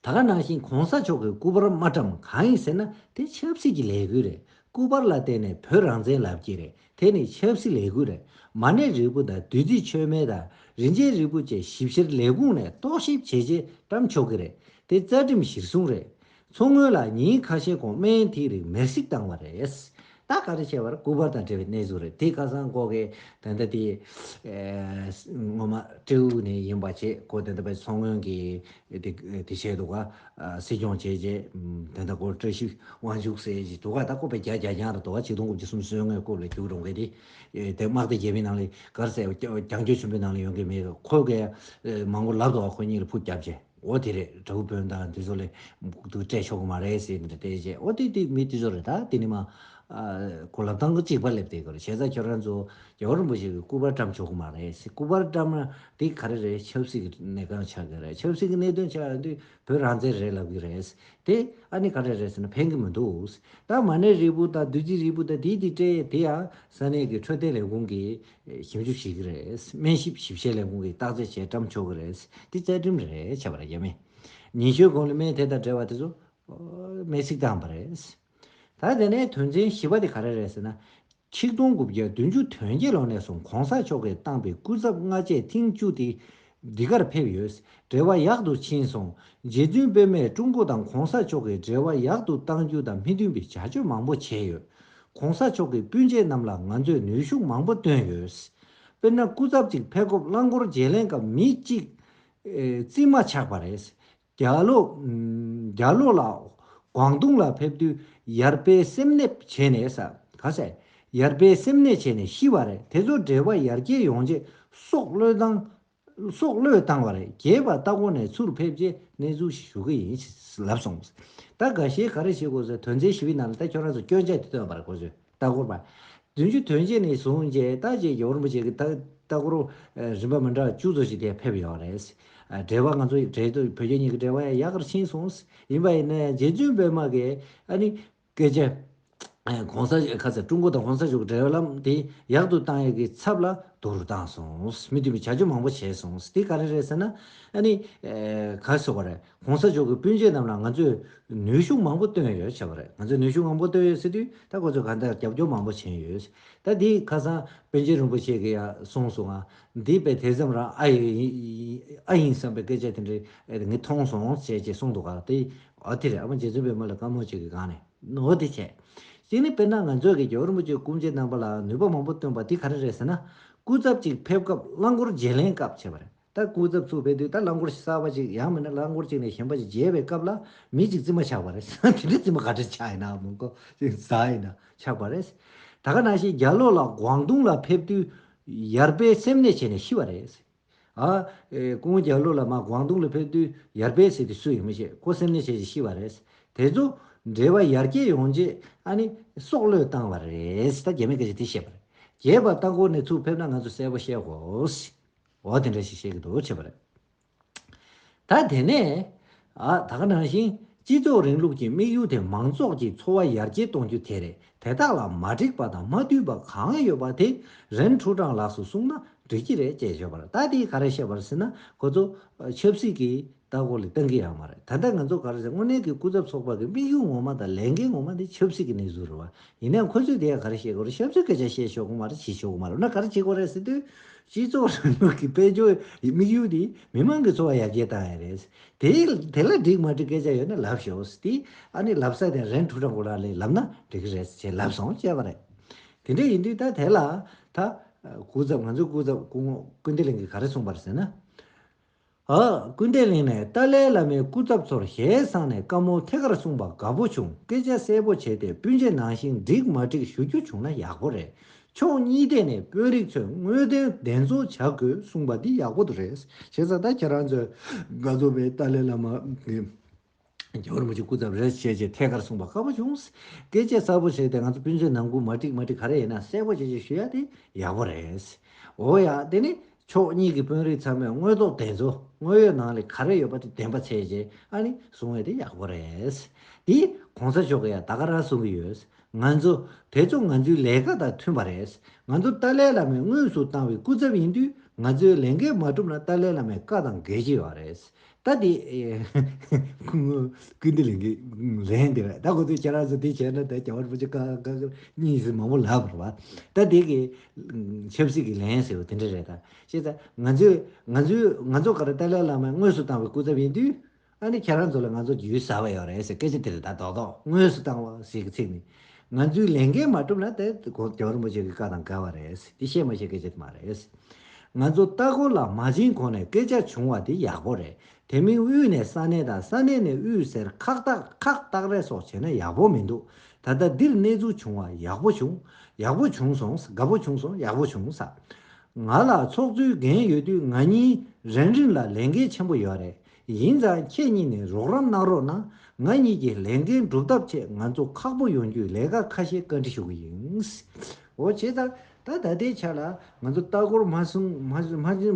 ད་ག་ནང་བཞིན་གོང་ས་མཆོག་གི་སྐུ་པར་མ་བཀྲམ་གང་ཡིན་ཟེར་ན་དེ་ཆབ་སྲིད་ཀྱི་ལས་འགུལ་རེད་སྐུ་པར་ལ་བརྟེན་ནས་བོད་རང་བཙན་ལབ་ཀྱི་རེད་དེ་ནི་ཆབ་སྲིད་ལས་ཁུངས་རེད་མ་གནས་རིལ་བུ་དང་བདུད་རྩི་ཆོས་མེད་དང་རིན་ཆེན་རིལ་བུ་བཅས་ཞིབ་བཤེར་ལས་ཁུངས་ནས་རྟོག་ཞིབ་བྱས་རྗེས་བཀྲམ་ཆོག་གི་རེད་དེ་རྩ་ཁྲིམས་གཞིར་བཟུང་རེད། མཚོ་སྔོན་ལ་ཉིན་ཁ་ཤས་གོང་སྨན་ཐིག་རིགས་མེར་སྲེག་བཏང་བ་རེད། ད་ག་རེ་བྱས་པར་སྐུ་པར་དང་འབྲེལ་བའི་གནས་ཚུལ་རེད་དེ་ཁ་སང་ཀོ་ཁའི་དན་ད་དེ། ངོ་མ་སྤྲེའུ་ནས་ཡིན་པ་བྱེད་སྒོ་དན་ད་པའི་མཚོ་སྔོན་གྱི་དེ་བྱས་འདུག་ག། སྲིད་སྐྱོང་བྱས་རྗེས་དེ་འདྲ་སྐོར་བཀྲ་ཤིས་དབང་ཕྱུག་ཟེར་གྱི་འདུག་ག་ད་ལྐོག་པའི་རྒྱ་རྒྱ་རྒྱང་རེད་དོ་ག་ཆིག་སྟོང་དགུ་བཅུ་གསུམ་སོན་ངའི་རྐུབ་ལ་རྒྱུག་འགྲོ་གི་རེད། དེ་དམག་སྡེ་རྒྱལ་པོའི་ནང་ལས་གར་གསལ་བ་རྒྱང་སྐྱོད་ཆེན་པོའི་ནང་ལས་ཡོང་གི་མེད་གི་ཁོ་གས་མང་པོ་ལབ་འདུག་ག་ཁོ་གཉིས་ལ་ཕུགས་རྒྱབ་རྗེས་འོ་དེ་རེད་དྲ་འབུ་དཔོན་དང་དེ་ཚོ་ལས་དུ་སྤྲད་ཆོག་གི་མ་རེད་ཟེར་གྱི་འདྲ་བལྟས་རྗེས་འོ་དེ་དེ་མི་དེ་ཚོ་རེད་ད་དེ་ནི་མ་གོ་ལབ་སྟངས་གཅིག་པ་ལབ་བལྟས་གི་རེད་བྱས་ཙང་ཁྱོད་རང་ཚོ་རྒྱལ་བ་རིན་པོ་ཆེ་གི་སྐུ་པར་བཀྲམ་ཆོག་གི་མ་རེད་སྐུ་པར་བཀྲམ་ན་དེ་ག་རེ་རེད་ཆབ་སྲིད་ཀྱི་གནས་གང་ཆགས་ཀྱི་རེད་ཆབ་སྲིད་ཀྱི་གནས་དོན་ཆགས་ཡོང་དུས་བོད་རང་བཙན་རེད་ལབ་ཀྱི་རེད། དེ་ཨ་ནི་ག་རེ་རེད་ཟེར་ན་ཕན་གྱི་མི་འདུག་རྟགས་མ་གནས་རིལ་བུ་དང་བདུད་རྩི་རིལ་བུ་དང་དེའི་དེ་སྤྲད་དེ་ཡང་ས་གནས་ཀྱི་འཕྲོད་བསྟེན་ལས་ཁུངས་ཀྱིས་ཞིབ་འཇུག་བྱེད་ཀྱི་རེད་སྨན་ཞིབ་ཞིབ་བཤེར་ལས་ཁུངས་ཀྱིས་བརྟག་དཔྱད་བྱས་བཀྲམ་ཆོག་གི་རེད་དེ་རྩ་ཁྲིམས་རེད་བྱས་པ་རེད་རྒྱ་མིས་ཉིན་ཤོས་གོང་ནས་སྨན་དེ་དང་འབྲེལ་བ་དེ་ཚོ་སྨན་སིག་བཏང་པ་རེད། ད་དེ་ནས་དོན་ཚན་བཞི་པ་དེ་ག་རེ་རེད་ཟེར་ན། ཆིག་སྟོང་དགུ་བརྒྱ་བདུན་ཅུ་དོན་བརྒྱད་ལོ་ནས་བཟུང་གོང་ས་མཆོག་གིས་བཏང་པའི་སྐུ་ཚབ་ལྔ་བཅས་ཐེངས་བཅུ་དེ་འདི་གར་ཕེབས་ཡོད། འབྲེལ་བ་ཡག་ཏུ་ཕྱིན་སོང། རྗེ་བཙུན་དཔོན་མས་ཀྲུང་གོ་དང་གོང་ས་མཆོག་གི་འབྲེལ་བ་ཡག་ཏུ་གཏང་རྒྱུ་དང་མི་མཐུན་པའི་བྱ་སྤྱོད་མང་པོ་བྱས་ཡོད། གོང་ས་མཆོག་གི་སྤུན་མཆེད་རྣམས་ལ་ང་ཚོས་ནུས་ཤུགས་མང་པོ་བཏོན་ཡོད། དཔེར་ན་སྐུ་ཚབ་ཅིག་ཕེབས་སྐབས་རླངས་འཁོར་བརྗེ་ལེན་སྐབས་མི་གཅིག། རྩིས་མ་ཆགས་པ་རེད། རྒྱ་ལོ་ལ ྋགོང་ཏུང་ལ་ཕེབས་དུས་ཡར་པས་སེམས་ནད་བྱས་ནས་ཟ། ག་ཟེ། ཡར་པས་སེམས་ནད་བྱས་ནས་ཤི་བ་རེད་དེ་ཚོ་འདྲེ་བ་ཡར་རྒྱས་ཡོང་རྗེས་སྲོག་བློས་བཏང་བ་རེད་རྒྱས་པ་ལྟ་གོ་ནས་ཚུར་ཕེབས་རྗེས་གནས་ཚུལ་ཞིག་ཞུ་གི་ཡིན་ལབ་སོང། ད་ག་ཞེས་ག་རེ་བྱེད་དགོས་ཟེར་དོན་ཚན་བཞི་བའི་ནང་ལ་ད་ཁྱོད་རང་ཚོ་སྐྱོན་ཆ་དེ་བཏོན་པ་རེད་གོ་ཟེར། ལྟ་སྐོར་པ། བདུན་ཅུ་དོན་གཅིག་ནས་བཟུང་རྗེ་ལྟ་བཅས་ཀྱི་རིན་པོ་ཆེ་གི་ལྟ་སྐོར་བ་རིམ་པ་མི་འདྲ་བ་བཅུ་ཙམ་ཞིག་དེ་ཕེབས་ཡོད་རེད། འབྲེལ་བ་ང་ཚོ་ཡི་གྲལ་དུ་བོད་རྒྱ་གཉིས་ཀྱི་འབྲེལ་བ་ཡང་ཡག་གར་ཕྱིན་སོང། ཡིན་པ་ཡིན་ན་ཡང་རྗེ་བཙུན་པད་མ་གི་ཨ་ནི་སྐད་ཆ། གོང་ས་ཁ་ཚ་ཀྲུང་གོ་དང་གོང་ས་མཆོག་གི་འབྲེལ་བའི་ལམ་དེ་ཡག་ཏུ་བཏང་ཡོད་ཀྱི་ཚབ་ལ་དོ་རུ་བཏང་སོང། མི་མཐུན་པའི་བྱ་སྤྱོད་མང་པོ་བྱས་སོང། དེ་ག་རེ་རེད་ཟེར་ན། ཨ་ནི། ག་ཚོད་པ་རེད། གོང་ས་མཆོག་གི་སྤུན་མཆེད་རྣམས་ལ་ང་ཚོས་ནུས་ཤུགས་མང་པོ་བཏོན་ཡོད་བྱས་པ་རེད་ང་ཚོས་ནུས་ཤུགས་མང་པོ་བཏོན་ཡོད་ཟེར་དུས་ད་ཁོ་ཚོས་གང་ལྟར་རྒྱབ་སྐྱོར་མང་པོ་བྱས་ཡོད། ད་འདི་ཁ་སང་པན་ཆེན་རིན་པོ་ཆེ་གི་ཡ་གསུངས་སོང་ང་འདི་དཔེ་དེ་ཙམ་རང་ཨ་ཡིན་ཨ་ཡིན་བསམ་པའི་སྐད་ཆ་དེ་འདྲི་ངས་མཐོང་སོང་ཟེར་ཅེས་གསུངས་འདུག་ག་དེ་ཨོ་དེ་རེད་ཨ་མ་རྗེ་བཙུན་པད་མ་ལ་བཀའ་མོལ་བྱེད་ཀྱི་སྒང་ནས་ཨོ་དེ་བྱས། གཅིག་ནི་དཔེར་ན་ང་ཚོས་ཀྱི་རྒྱལ་བ་རིན་པོ་ཆེ་སྐུ་མཆེད་རྣམ་པ་ལ་ནུས་པ་མང་པོ་བཏོན་པ་དེ་ག་རེ་རེད་ཟེར་ན་སྐུ་ཚབ་ཅིག་ཕེབས་སྐབས་རླངས་འཁོར་བརྗེ་ལེན་སྐབས་བྱས་པ་རེད། ད་སྐུ་ཚབ་ཚུགས་པའི་དུས་ད་རླངས་འཁོར་ཞིག་གསར་བ་ཅིག་ཡང་མིན་ན་རླངས་འཁོར་གཅིག་ནས་གཞན་པ་ཞིག་བརྗེ་བའི་སྐབས་ལ་མི་གཅིག་རྩིས་མ་ཆགས་པ་རེད་ད་དེ་འདྲའི་རྩིས་མ་ག་དྲི་ཆགས་ཡིན་ནའང་མིན་ཀོ་ཅིག་ཟ་ཡིན་ན་ཆགས་པ་རེད། ད་ག་ན་ཞིག་རྒྱ་ལོ་ལགས་གུང་ཏུང་ལ་ཕེབས་དུས་ཡར་པས་སེམས་ནད་བྱས་ནས་ཤི་བ་རེད། ཨ། ཀུན་རྒྱ་ལོ་ལ་མ་གུང་ཏུང་ལ་ཕེབས་དུས་ཡར་པས་ཟེར་དུས་སུ་ཡིན་མི་ཤེས་ཁོ་སེམས་ནད་བྱས་རྗེས་ཤི་བ་རེད། དེ་ཚོ་འདྲེ་བ་ཡར་སྐྱེས་ཡོང་རྗེས་ཨ་ནི་སྲོག་བློས་བཏང་བ་རེད་ད་རྒྱ་མི་ག་ཅིག་དེ་བཤད་པ་རེད། རྒྱས་པ་ལྟ་སྐོར་ནས་ཚུགས་ཕེབས་ན་ང་ཚོ་གསལ་པོ་ཤེས་དགོས། འོ་དེ་འདྲ་ཞིག་བཤད་ཀྱི་འདུག་བྱས་པ་རེད། ད་དེ་ནས། ད་ག་ནང་བཞིན་སྤྱི་ཚོགས་རིང་ལུགས་ཀྱི་དམིགས་ཡུལ་དེ་མང་ཚོགས་ཀྱི་འཚོ་བ་ཡར་རྒྱས་གཏོང་རྒྱུ་དེ་རེད་དེ་དག་ལ་མ་འགྲིག་པ་དང་མ་འཐུས་པ་གང་ཡོད་པ་དེ་རེན་ཁྲུའུ་ཀྲང་ལགས་སུ་གསུངས་ན་འགྲིག་གི་རེད་ཅེས་བརྗོད་པར་ད་དེས་ག་རེ་བཤད་པར་ཟེར་ན་ཁོ་ཚོ། ཆབ་སྲིད་ཀྱི་ལྟ་སྐོར་ལས་གཏན་འཁེལ་ཡང་མ་རེད་ད་ལྟ་ང་ཚོ་ག་རེ་བྱས་དངོས་གནས་ཀྱི་སྐུ་ཚབ་ཚོགས་པ་གི་དམིགས་ཡུལ་ངོ་མ་དང་ལས་འགན་ངོ་མ་ནི་ཆབ་སྲིད་ཀྱི་གནས་ཚུལ་རེད་བ་ཡིན་ན་ཡང་ཁོ་ཚོས་དེ་ཡང་ག་རེ་བྱེད་དགོས་རེད་ཆབ་སྲིད་སྐད་ཆ་བཤད་ཆོག་གི་མ་རེད་བྱེད་ཆོག་གི་མ་རེད་འོ་ན་ག་རེ་བྱེད་དགོས་རེད་ཟེར་དུས། སྤྱི་ཚོགས་རིང་ལུགས་ཀྱི་དཔལ་འབྱོར་དམིགས་ཡུལ་ནི་མི་དམངས་ཀྱི་འཚོ་བ་ཡར་རྒྱས་བཏང་ཡ་རེད། དེ་དེ་ལ་འགྲིག་མ་འགྲིག་སྐད་ཆ་ཡོད་ན་ལབ་ཤོག་ཟེར་དུས་ཨ་ནི་ལབ་ས་དེ་རེན་ཕྲུག་ཁྲ་འགོ་ལགས་ལས་ལབ་ན་འགྲིག་གི་རེད་ཅེས་ལབ་སོང་ཅེས་པ་རེད། དེ་འདྲ་ཡིན་དུས་ད་དེ་ལ་ད། སྐུ་ཚབ་ང་ཚོའི་སྐུ་ཚབ་སྐུ་ངོ་ཀུན་བདེ་གླིང་གིས་ག་རེ་གསུངས་པ་རེད་ཟེར་ན། ཨ། ཀུན་བདེ་གླིང་ནས་ཏཱ་ལའི་བླ་མའི་སྐུ་ཚབ་ཚོར་ཞལ་གསང་ནས་བཀའ་མོལ་ཐད་ཀར་གསུངས་པ་དགའ་པོ་བྱུང་སྐད་ཆ་གསལ་པོ་བྱས་ཏེ་སྤུན་མཆེད་ནང་བཞིན་འགྲིག་མ་འགྲིག་ཞུ་རྒྱུ་བྱུང་ན་ཡག་པོ་རེད་ཕྱོགས་གཉིས་ཐད་ནས་དཔོན་རིགས་ཚོས་དངོས་དོན་བདེན་འཚོལ་བྱ་དགོས་གསུངས་པ་འདི་ཡག་པོ་དུ་རེད་བྱས་ཙང་ད་ཁྱེད་རང་ཚོས་དགའ་ཚོར་བའི་ཏཱ་ལའི་བླ་མ་གི། རྒྱལ་པོར་མི་ཆོས་སྐུ་ཙམ་རེ་བྱེད་ཅེས་ཐད་ཀར་གསུངས་པ་དཀའ་བོ་བྱུང། སྐེ་བཅད་གསར་བོ་བྱས་ཏེ་ང་ཚོ་སྤུན་མཆེད་ནང་སྐུ་མ་བསྒྲིགས་མ་བསྒྲིགས་ག་རེ་ཡིན་ན་གསལ་བོ་བྱེད་ཅེས་ཞུ་ཡ་དེ་ཡག་པོ་རེད། འོ་ཡ་དེ་ནི་ཕྱོགས་གཉིས་ཀྱི་དཔོན་རིགས་ཚང་མས་དངོས་ཐོག་བདེན་འཚོལ་དངོས་ཡོད་ནང་ལས་ག་རེ་ཡོད་པ་དེ་བདེན་པ་བྱེད་ཅེས་ཨ་ནི་གསུང་བས་དེ་ཡག་པོ་རེད། དེ ྋགོང་ས་མཆོག་གིས་ཡང་ད་ག་རང་གསུང་གི་ཡོད། ང་ཚོ་དེ་ཚོ་ང་ཚོའི་ལས་ཀ་དང་མཐུན་པ་རེད། ང་ཚོར་ཏཱ་ལའི་བླ་མས་དངོས་སུ་བཏང་བའི་སྐུ་ཚབ་ཡིན་དུས་ང་ཚོའི་ལས་འགན་མ་གྲུབ་ན་ཏཱ་ལའི་བླ་མའི་བཀའ་དང་འགལ་གྱི་ཡོད་རེད། ད་དེ། ཀུན་ཏུ་ལེན་གྱི་ལན་འདེབས་པ། ད་གོ་ཚོད་ཁྱེད་རང་ཚོ་དེ་བྱས་ན་ད་གྱ་བར་པོ་ཆེ་ཀ་ཀ་ཀ་གཉིས་སུ་མང་པོ་ལབ་པར་བ། ད་དེ་གི། ཆབ་སྲིད་ཀྱི་ལན་ཟེར་བ་དེ་འདྲ་རེད་ད། ཤེས་ད། ང་ཚོས་ང་ཚོས་ང་ཚོ་ཀ་ར་ཏཱ་ལའི་བླ་མས་དངོས་སུ་བཏང་བའི་སྐུ་ཚབ་ཡིན་དུས། ཨ་ནི་ཁྱེད་རང་ཚོ་ལ་ང་ཚོ་རྒྱུས་ཟ་བ་ཡོད་རེད་ཟེར་སྐད་ཆ་དེ་རེད་ད་རྡོག་རྡོག་དངོས་སུ་བཏང་བ་ཟེར་གྱི་ཚིག་ནི། ང་ཚོས་ལས་འགན་མ་བསྒྲུབས་ན་དེ་གྱོང་རིན་པོ་ཆེ་གི་བཀའ་དང་འགལ་བ་རེད། དེ་བཤད་མ་བཤད་སྐད་ཆ་དེ་མ་རེད། ང་ཚོ་ལྟ་སྐོར་ལ་མ་ཕྱིན་གོང་ནས་སྐད་ཆ་བྱུང་བ་དེ་ཡག་པོ་རེད། དེ་མིན་དབུས་ནས་ས་གནས་དང་ས་གནས་ནས་དབུས་ཟེར་ཁག་ཐག་ཁག་ཐག་རེད་སོགས་བྱས་ན་ཡག་པོ་མི་འདུག་ད་ལྟ་འདིར་གནས་ཚུལ་བྱུང་བ་ཡག་པོ་བྱུང། ཡག་པོ་བྱུང་སོང་དགའ་པོ་བྱུང་སོང་ཡག་པོ་བྱུང་ས། ང་ལ་ཚོགས་གཙོའི་འགན་ཡོད་དུས་ང་གཉིས་རན་རིང་ལ་ལས་འགན་ཆེན་པོ་ཡོད་རེད། ཡིན་ཙང་ཁྱེད་གཉིས་ནས་རོགས་རམ་གནང་རོགས་གནང་ང་གཉིས་ཀྱི་ལས་འགན་སྒྲུབ་ཐབས་ཆེད་ང་ཚོ་ཁག་པོ་ཡོང་རྒྱུའི་ལས་ཀ་ཁ་ཤས་བཀའ་འདྲི་ཞུ་གི་ཡིན། འོ་བྱས་ཙང་ད་ད་ལྟའི་ཆ་ལ་ང་ཚོ་ལྟ་སྐོར་མ་སོང་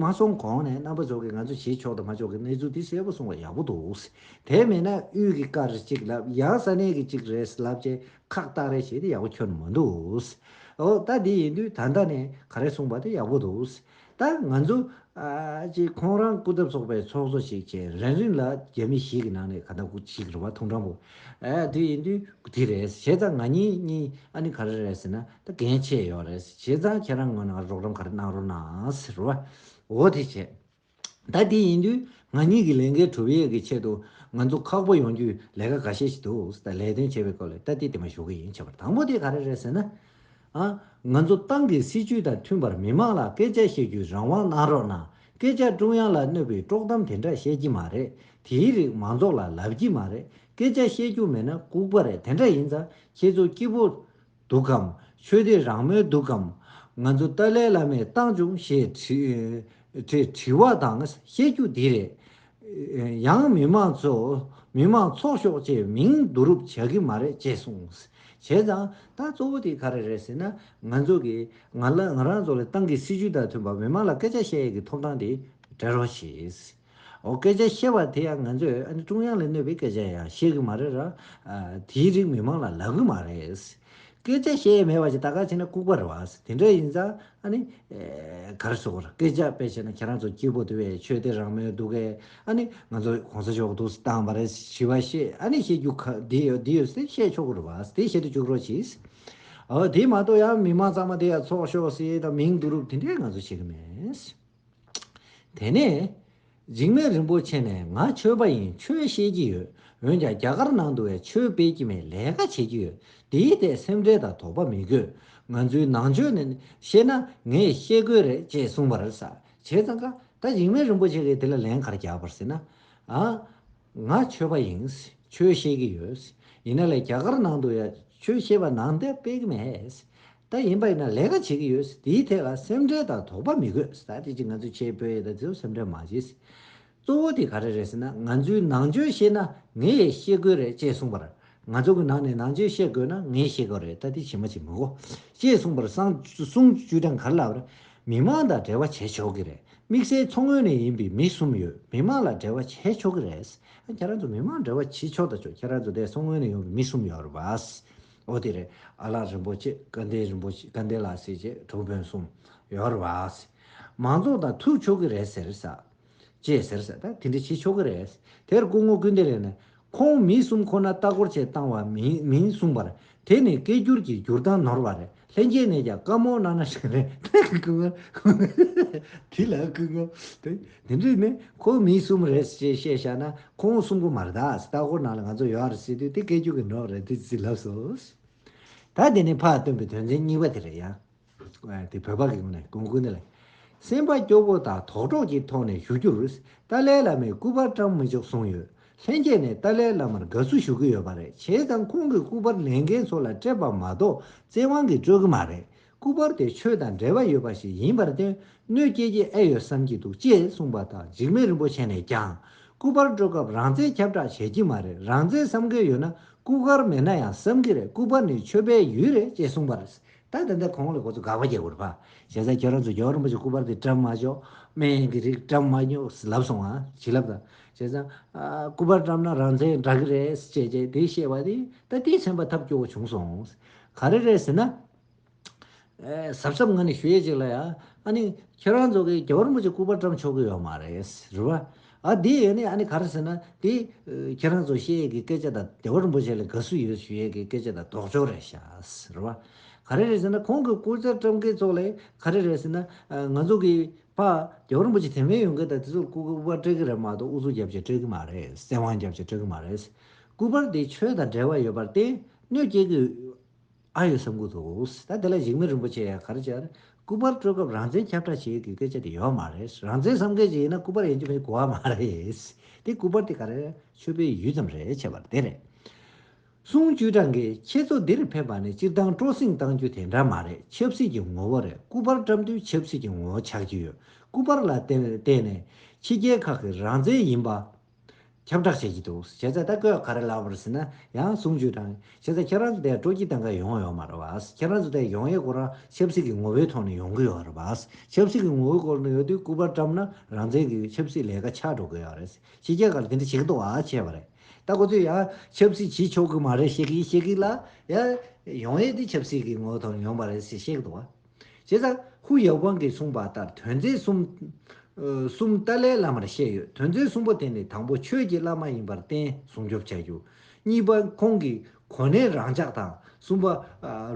མ་སོང་གོང་ནས་རྣམ་པ་ཚོ་གི་ང་ཚོ་བྱེད་ཆོག་དང་མ་ཆོག་གི་གནས་ཚུལ་དེ་གསལ་པོ་སོང་བ་ཡག་པོ་འདུག་དེ་མེད་ན་དབུས་ཀྱི་ཀ་རེ་གཅིག་ལབ་ཡང་ས་གནས་ཀྱི་གཅིག་རེད་ལབ་བྱས་ཁག་བཏགས་རེ་བྱས་དེ་ཡག་པོ་ཁྱོན་མ་འདུག་འོ་ལྟ་འདི་ཡིན་དུས་ད་ལྟ་ནས་ག་རེ་གསུངས་པ་དེ་ཡག་པོ་འདུག། ད་ང་ཚོ། ཅེས་ཁོང་རང་སྐུ་ཚབ་ཚོགས་པའི་ཚོགས་གཙོ་ཞིག་བྱས་རན་རིང་ལ་རྒྱ་མི་ཞིག་གི་ནང་ནས་ག་ད་སྐུ་གཅིག་རེད་བ་ཐུང་དྲང་པོ། དེ་ཡིན་དུས་སྐུ་དེ་རེད་བྱས་ཙང་ང་གཉིས་གཉིས་ཨ་ནི་ག་རེ་རེད་ཟེར་ན་ད་གན་ཆེ་ཡོད་རེད་བྱས་ཙང་ཁྱེད་རང་ངོས་ནང་རོགས་རམ་ག་རེ་གནང་རོགས་གནང་ཟེར་བ། འོ་དེ་བྱས། ད་དེ་ཡིན་དུས་ང་གཉིས་ཀྱི་ལས་འགན་གྲུབ་ཡས་ཀྱི་ཆེད་དུ་ང་ཚོ་ཁག་པོ་ཡོང་རྒྱུའི་ལས་ཀ་ག་ཤེད་ཞིག་འདུག་ད་ལས་དོན་བྱས་པའི་སྐོར་ལས་ད་དེ་དེ་མ་ཞུ་གི་ཡིན་བྱས་པར་དང་པོ་དེ་ག་རེ་རེད་ཟེར་ན། ང་ཚོ་ཏང་གི་སྲིད་ཇུས་དང་མཐུན་པར་མི་དམངས་ལ་སྐད་ཆ་བཤད་རྒྱུའི་རང་དབང་གནང་རོགས་གནང། སྐད་ཆ་ཀྲུང་དབྱང་ལ་གནོད་པའི་དཀྲོག་གཏམ་དེ་འདྲ་བཤད་ཀྱི་མ་རེད། དེའི་རིགས་མང་ཚོགས་ལ་ལབ་ཀྱི་མ་རེད། སྐད་ཆ་བཤད་རྒྱུ་མེད་ན་ལྐུག་པ་རེད་དེ་འདྲ་ཡིན་ཙང་ཁྱེད་ཚོ་སྐྱིད་པོ། འདུག་གམ། ཆོས་དད་རང་མོས་འདུག་གམ། ང་ཚོ་ཏཱ་ལའི་བླ་མས་བཏང་བྱུང་ཞེས་དྲི་བ་དང་བཤད་རྒྱུ་འདི་རེད། ཡང་མི་དམངས་ཚོས་མི་དམངས་ཚོགས་ཤོག་བཅས་མིང་བསྡུ་རུབ་བྱ་གི་མ་རེད་ཅེས་གསུངས། བྱས་ཙང་ད་གཙོ་བོ་དེ་ག་རེ་རེད་ཟེར་ན་ང་ཚོ་གིས་ང་ང་རང་ཚོ་ལ་ཏང་གི་སྲིད་ཇུས་དང་མཐུན་པར་མི་དམངས་ལ་སྐད་ཆ་བཤད་ཡས་ཀྱི་ཐོབ་ཐང་དེ་སྤྲད་རོགས་ཞེས། འོ་སྐད་ཆ་བཤད་པ་དེ་ཡང་ང་ཚོས་ཨ་ནི་ཀྲུང་དབྱང་ལས་གནོད་པའི་སྐད་ཆ་ཡང་བཤད་གི་མ་རེད་ར། དེའི་རིགས་མི་དམངས་ལ་ལབ་གི་མ་རེད། སྐད་ཆ་བཤད་ཡས་མེད་པ་ཞིག་ད་གར་བྱས་ན་ལྐུག་པ་རེད་བ། དེ་འདྲ་ཡིན་ཙང་ཨ་ནི། གར་སོ་གར་སྐད་ཆ་དཔེ་བྱས་ན་ཁྱེད་རང་ཚོ་སྐྱིད་པོ་དེ་བས་ཆོས་དད་རང་མོས་འདུག་གས་ཨ་ནི་ང་ཚོ་གོང་ས་མཆོག་དུག་སི་བཏང་བ་རེད་ཞི་བ་ཤེས་ཨ་ནི་ཤེས་རྒྱུ་ཁག་འདི་ཡོད་འདི་ཡོད་ཟེར་བཤད་ཆོག་གི་རེད་བ་དེ་བཤད་དུ་བཅུག་རོགས་གྱིས། འོ་དེ་མ་གཏོགས་ཡང་མི་མང་ཚང་མ་དེ་ཡང་ཚོགས་ཤོག་སི་དང་མིང་བསྡུ་རུབ་དེ་འདྲས་ང་ཚོ་བྱེད་གི་མེད། དེ་ནས། འཇིགས་མེད་རིན་པོ་ཆེ་ནས་ང་ཆོས་པ་ཡིན་ཆོས་བཤད་ཀྱི་ཡོད་འོན་ཀྱང་རྒྱ་གར་ནང་དུ་བས་ཆོས་སྤེལ་གྱི་མེད་ལས་ཀ་བྱེད་ཀྱི་ཡོད་དེའི་ཐད་སེམས་ཁྲལ་དང་དོགས་པ་མི་དགོས་ང་ཚོའི་ནང་ཆོས་ནས་བཤད་ན་ངས་བཤད་དགོས་རེད་ཅེས་གསུངས་པར། བྱས་ཙང་ཀ། ད་འཇིགས་མེད་རིན་པོ་ཆེ་གིས་དེ་ལ་ལན་གར་རྒྱག་པར་ཟེར་ན། ང་ཆོས་པ་ཡིན། ཆོས་ཤེས་ཀྱི་ཡོད། ཡིན་ན་ལས་རྒྱ་གར་ནང་དུ་ཡང་ཆོས་ཤེས་པ་ནང་འདྲེན་སྤེལ་གྱི་མེད། ད་ཡིན་པ་ཡིན་ན་ལས་ཀ་བྱེད་ཀྱི་ཡོད། དེའི་ཐད་ལ་སེམས་ཁྲལ་དང་དོགས་པ་མི་དགོས། ད་དེ་ཅི་ང་ཚོས་ཆེས་སྤོས་ཡས་དང་དེ་སེམས་ཁྲལ་མ་བྱེད། གཙོ་བོ་དེ་ག་རེ་རེད་ཟེར་ན་ང་ཚོའི་ནང་ཆོས་ཤེས་ན་ངས་ཤེས་དགོས་རེད་ཅེས་གསུངས་པར་ང་ཚོ་གི་ནང་ནས་ནང་ཆོས་བཤད་དགོས་ན་ངས་བཤད་གི་རེད་ད་དེ་བྱེད་མ་བྱེད་མི་གོ། ཅེས་གསུངས་པར་སང་གསུང་བཅུ་གྲངས་གར་ལ་བར། མི་དམངས་དང་འབྲེལ་བ་བྱས་ཆོག་གི་རེད་དམིགས་བསལ་མཚོ་སྔོན་ནས་ཡིན་པའི་མི་གསུམ་ཡོད་མི་དམངས་ལ་འབྲེལ་བ་བྱས་ཆོག་གི་རེད། ཨ་ཁྱེད་རང་ཚོ་མི་དམངས་འབྲེལ་བ་བྱེད་ཆོག་ད་ཆོག་ཁྱེད་རང་ཚོ་འདས་མཚོ་སྔོན་ནས་ཡོང་བའི་མི་གསུམ་ཡོད་རེད་བཱས། ཨོ་དེ་རེད་ཨ་ལགས་རིན་པོ་ཆེ་དགའ་ལྡན་རིན་པོ་ཆེ་དགའ་ལྡན་ལགས་ཟེར་བྱས་གྲོགས་སྤུན་གསུམ་ཡོད་རེད་བཱས། མང་ཚོགས་དང་ཐུག་ཆོག་གི་རེད་ཟེར། ཅེས་ཟེར་ས་ད་དེ་འདྲ་བྱེད་ཆོག་གི་རེད། དེར་སྐུ་ངོ་ཀུན་བདེ་ལེགས་ནས། ཁོང་མི་གསུམ་ཁོ་ན་ལྟ་སྐོར་བྱེད་བཏང་བ་མིན་གསུངས་པར། དེ་ནི་སྐད་སྒྱུར་གྱི་སྒྱུར་སྟངས་ནོར་བ་རེད་ལྷན་རྒྱས་ནས་ཀྱང་བཀའ་མོལ་གནང་ན་ཞེས་རེད། སྐུ་ངོ། དེ་ལ་སྐུ་ངོ། དེ་འདྲས་ནི་ཁོང་མི་གསུམ་རེད་ཅེས་བཤད་བཞག་ན་ཁོང་གསུམ་གོ་མ་རེད་ད་ལྟ་སྐོར་ནང་ལ་ང་ཚོ་ཡོད་རེད་ཟེར་དུས་དེ་སྐད་སྒྱུར་གྱི་འགྲོགས་རེད་དེ་ཟིག་ལབ་སོང། ད་དེ་ནི་ཕ་ལ་སྟོན་པའི་དོན་ཚན་གཉིས་པ་དེ་རེད་ཡ། དེ་བོད་པ་གིས་ནས་གོང་ཀུན་ལ་སེམས་པ་སྐྱོ་པོ་དང་དོག་གྲོགས་ཀྱི་ཐོག་ནས་ཞུ་རྒྱུར་ཏཱ་ལའི་བླ་མའི་སྐུ་པར་བཀྲམ་མི་ཆོག་གསུངས་ཡོད་ལྷན་རྒྱས་ནས་ཏཱ་ལའི་བླ་མར་དགའ་བསུ་ཞུ་གི་ཡོད་པ་རེད་བྱས་ཙང་ཁོང་གི་སྐུ་པར་ལེན་མཁན་ཚོ་ལ་སྤྲད་པ་མ་གཏོགས་བཙན་དབང་གིས་སྤྲོད་གི་མ་རེད་སྐུ་པར་དེ་ཆོས་དང་འབྲེལ་བ་ཡོད་པ་ཞིག་ཡིན་པར་དོན་གནོད་སྐྱེལ་གྱི་ཨེ་ཡོད་བསམ་གྱི་འདུག་ཅེས་གསུངས་པ་དང་འཇིགས་མེད་རིན་པོ་ཆེ་ནས་ཀྱང་སྐུ་པར་སྤྲོད་སྐབས་རང་བཙན་ཁྱབ་བསྒྲགས་བྱས་ཀྱི་མ་རེད་རང་བཙན་བསམ་མཁན་ཡོད་ན་སྐུ་ཁར་མེད་ན་ཡང་བསམ་གི་རེད་སྐུ་པར་ནི་ཆོས་པའི་ཡུལ་རེད་ཅེས་གསུངས་པར་ད་ད་ལྟ་གོང་ལ་ཁོ་ཚོ་དགག་པ་རྒྱག་དགོས་རེད་བ། ཞེ་ས་ཁྱེད་རང་ཚོ་ཇོ་རིན་པོ་ཆེ་སྐུ་པར་དེ་བཀྲམ་མ་ཆོག་སྨན་ཡང་གི་རིགས་བཀྲམ་མ་ཉོག་ལབ་སོང་ང་ཞིག་ལབ་དང། ཞེ་ས། སྐུ་པར་བཀྲམ་ན་རང་བཙན་འདྲ་གི་རེད་ཅེས་བྱས་དེ་བཤད་པ་དེ་ད་ལྟའི་མཚན་པ་ཐབས་སྐྱོ་བོ་བྱུང་སོང། ག་རེ་རེད་ཟེར་ན། གཟབ་གཟབ་ང་ནས་ཞུ་ཡས་ཅིག་ལ་ཡ། ཨ་ནི། ཁྱེད་རང་ཚོ་གིས་ཇོ་རིན་པོ་ཆེ་སྐུ་པར་བཀྲམ་ཆོག་གི་ཡོད་མ་རེད་རེད་བ། ཨ་དེ་ཡོད་ནི་ཨ་ནི་ག་རེ་ཟེར་ན་དེ། ཁྱེད་རང་ཚོ་བཤད་ཡས་ཀྱི་སྐད་ཆ་དང་བདེ་བ་རིན་པོ་ཆེ་ལ་དགའ་བསུ་ཡོད་ཞུ་ཡས་ཀྱི་སྐད་ཆ་དང་ལྡོག་ཕྱོགས་རེད་ཤགས་རེད་བ། ག་རེ་རེད་ཟེར་ན་ཁོང་གི་སྐུ་ཚེ་བཀྲམ་མཁན་ཚོ་ལས་ག་རེ་རེད་ཟེར་ན། ང་ཚོ་གི་པ། བདེ་བ་རིན་པོ་ཆེ་དེ་མིན་ཡོང་མཁན་དང་དེ་ཚོར་སྐུ་པར་སྤྲད་ཀྱི་རེད་མ་གཏོགས་ཨུ་ཚུགས་རྒྱབ་ཆེ་སྤྲད་ཀྱི་མ་རེད་བཙན་དབང་རྒྱབ་ཆེ་སྤྲད་ཀྱི་མ་རེད། སྐུ་པར་དེ་ཆོས་དང་འབྲེལ་བ་ཡོད་པར་བརྟེན་གནོད་སྐྱེལ་གྱི། ཨ་ཡོད་བསམ་ཁུལ་དུ་འོངས། ད་དེ་ལ་གཞིགས་མེད་རིན་པོ་ཆེ་ཡང་གར་བཅར། སྐུ་པར་སྤྲོད་སྐབས་རང་བཙན་ཁྱབ་བསྒྲགས་བྱེད་དགོས་སྐད་ཆ་དེ་ཡོད་མ་རེད། རང་བཙན་བསམ་མཁན་ཞིག་ཡིན་ན་སྐུ་པར་ཡིན་གྱི་མེད་གོ་བ་མ་རེད། དེ་སྐུ་པར་དེ་ག་རེ་ཆོས་པའི་ཡུལ་ཙམ་རེད་བྱས་པར་དེ་རེད། གསུང་བཅུ་གྲངས་ཀྱི་ཁྱེད་ཚོ་འདིར་ཕེབས་པ་ནི་སྤྱིར་བཏང་སྤྲོ་གསེང་བཏང་རྒྱུ་དེ་འདྲ་མ་རེད་ཆབ་སྲིད་ཀྱི་ངོ་བོ་རེད་སྐུ་པར་བཀྲམ་དུས་ཆབ་སྲིད་ཀྱི་ངོ་བོ་ཆགས་ཀྱི་ཡོད་སྐུ་པར་ལ་བརྟེན་ནས་ཕྱི་རྒྱལ་ཁག་གི་རང་བཙན་ཡིན་པ། ཁྱབ་བསྒྲགས་བྱེད་ཀྱི་འདུག་བྱས་ཙང་ད་སྐབས་ག་རེ་ལབ་པར་ཟེར་ན་ཡང་གསུང་བརྗོད་དང་བྱས་ཙང་ཁྱེད་རང་ཚོ་དེ་སྤྲོ་སྐྱིད་གཏང་ག་ཡོང་ཡོད་མ་རེད་བ། ཁྱེད་རང་ཚོ་དེ་ཡོང་ཡས་སྐོར་ཆབ་སྲིད་ཀྱི་ངོ་བོའི་ཐོག་ནས་ཡོང་གི་ཡོད་རེད་བ། ཆབ་སྲིད་ཀྱི་ངོ་བོའི་སྐོར་ནས་ཡོད་དུས་སྐུ་པར་བཀྲམ་ན་རང་བཙན་གྱི་ཆབ་སྲིད་ལས་ཀ་ཆགས་འགྲོ་གི་ཡོད་རེད། ཕྱི་རྒྱལ་ཁར་དེ་འདྲ་བྱེད་ཀྱི་འདུག་བ་བྱས་པ་རེད། ད་ཁོ་ཚོས་ཡང་ཆབ་སྲིད་བྱེད་ཆོག་གི་མ་རེད་བཤད་ཀྱི་བཤད་ཀྱི་ལ། ཡང་ཡོང་ཡས་དེ་ཆབ་སྲིད་ཀྱི་ངོ་བོའི་ཐོག་ནས་ཡོང་པ་རེད་ཟེར་བཤད་ཀྱི་འདུག་བ། བྱས་ཙང་ཧུའུ་ཡའོ་ཝང་གིས་གསུངས་པ་ལྟར་དོན་མཛད་གསུམ། གསུམ་ཏཱ་ལའི་བླ་མར་བཤད་ཡོད་དོན་མཛད་གསུམ་པོ་དེ་ནི་དང་པོ་ཆོས་ཀྱི་བླ་མ་ཡིན་པར་བརྟེན་སྲུང་སྐྱོབ་བྱ་རྒྱུ། གཉིས་པ་ཁོང་གིས་གོ་གནས་རང་འཇགས་དང་གསུམ་པ།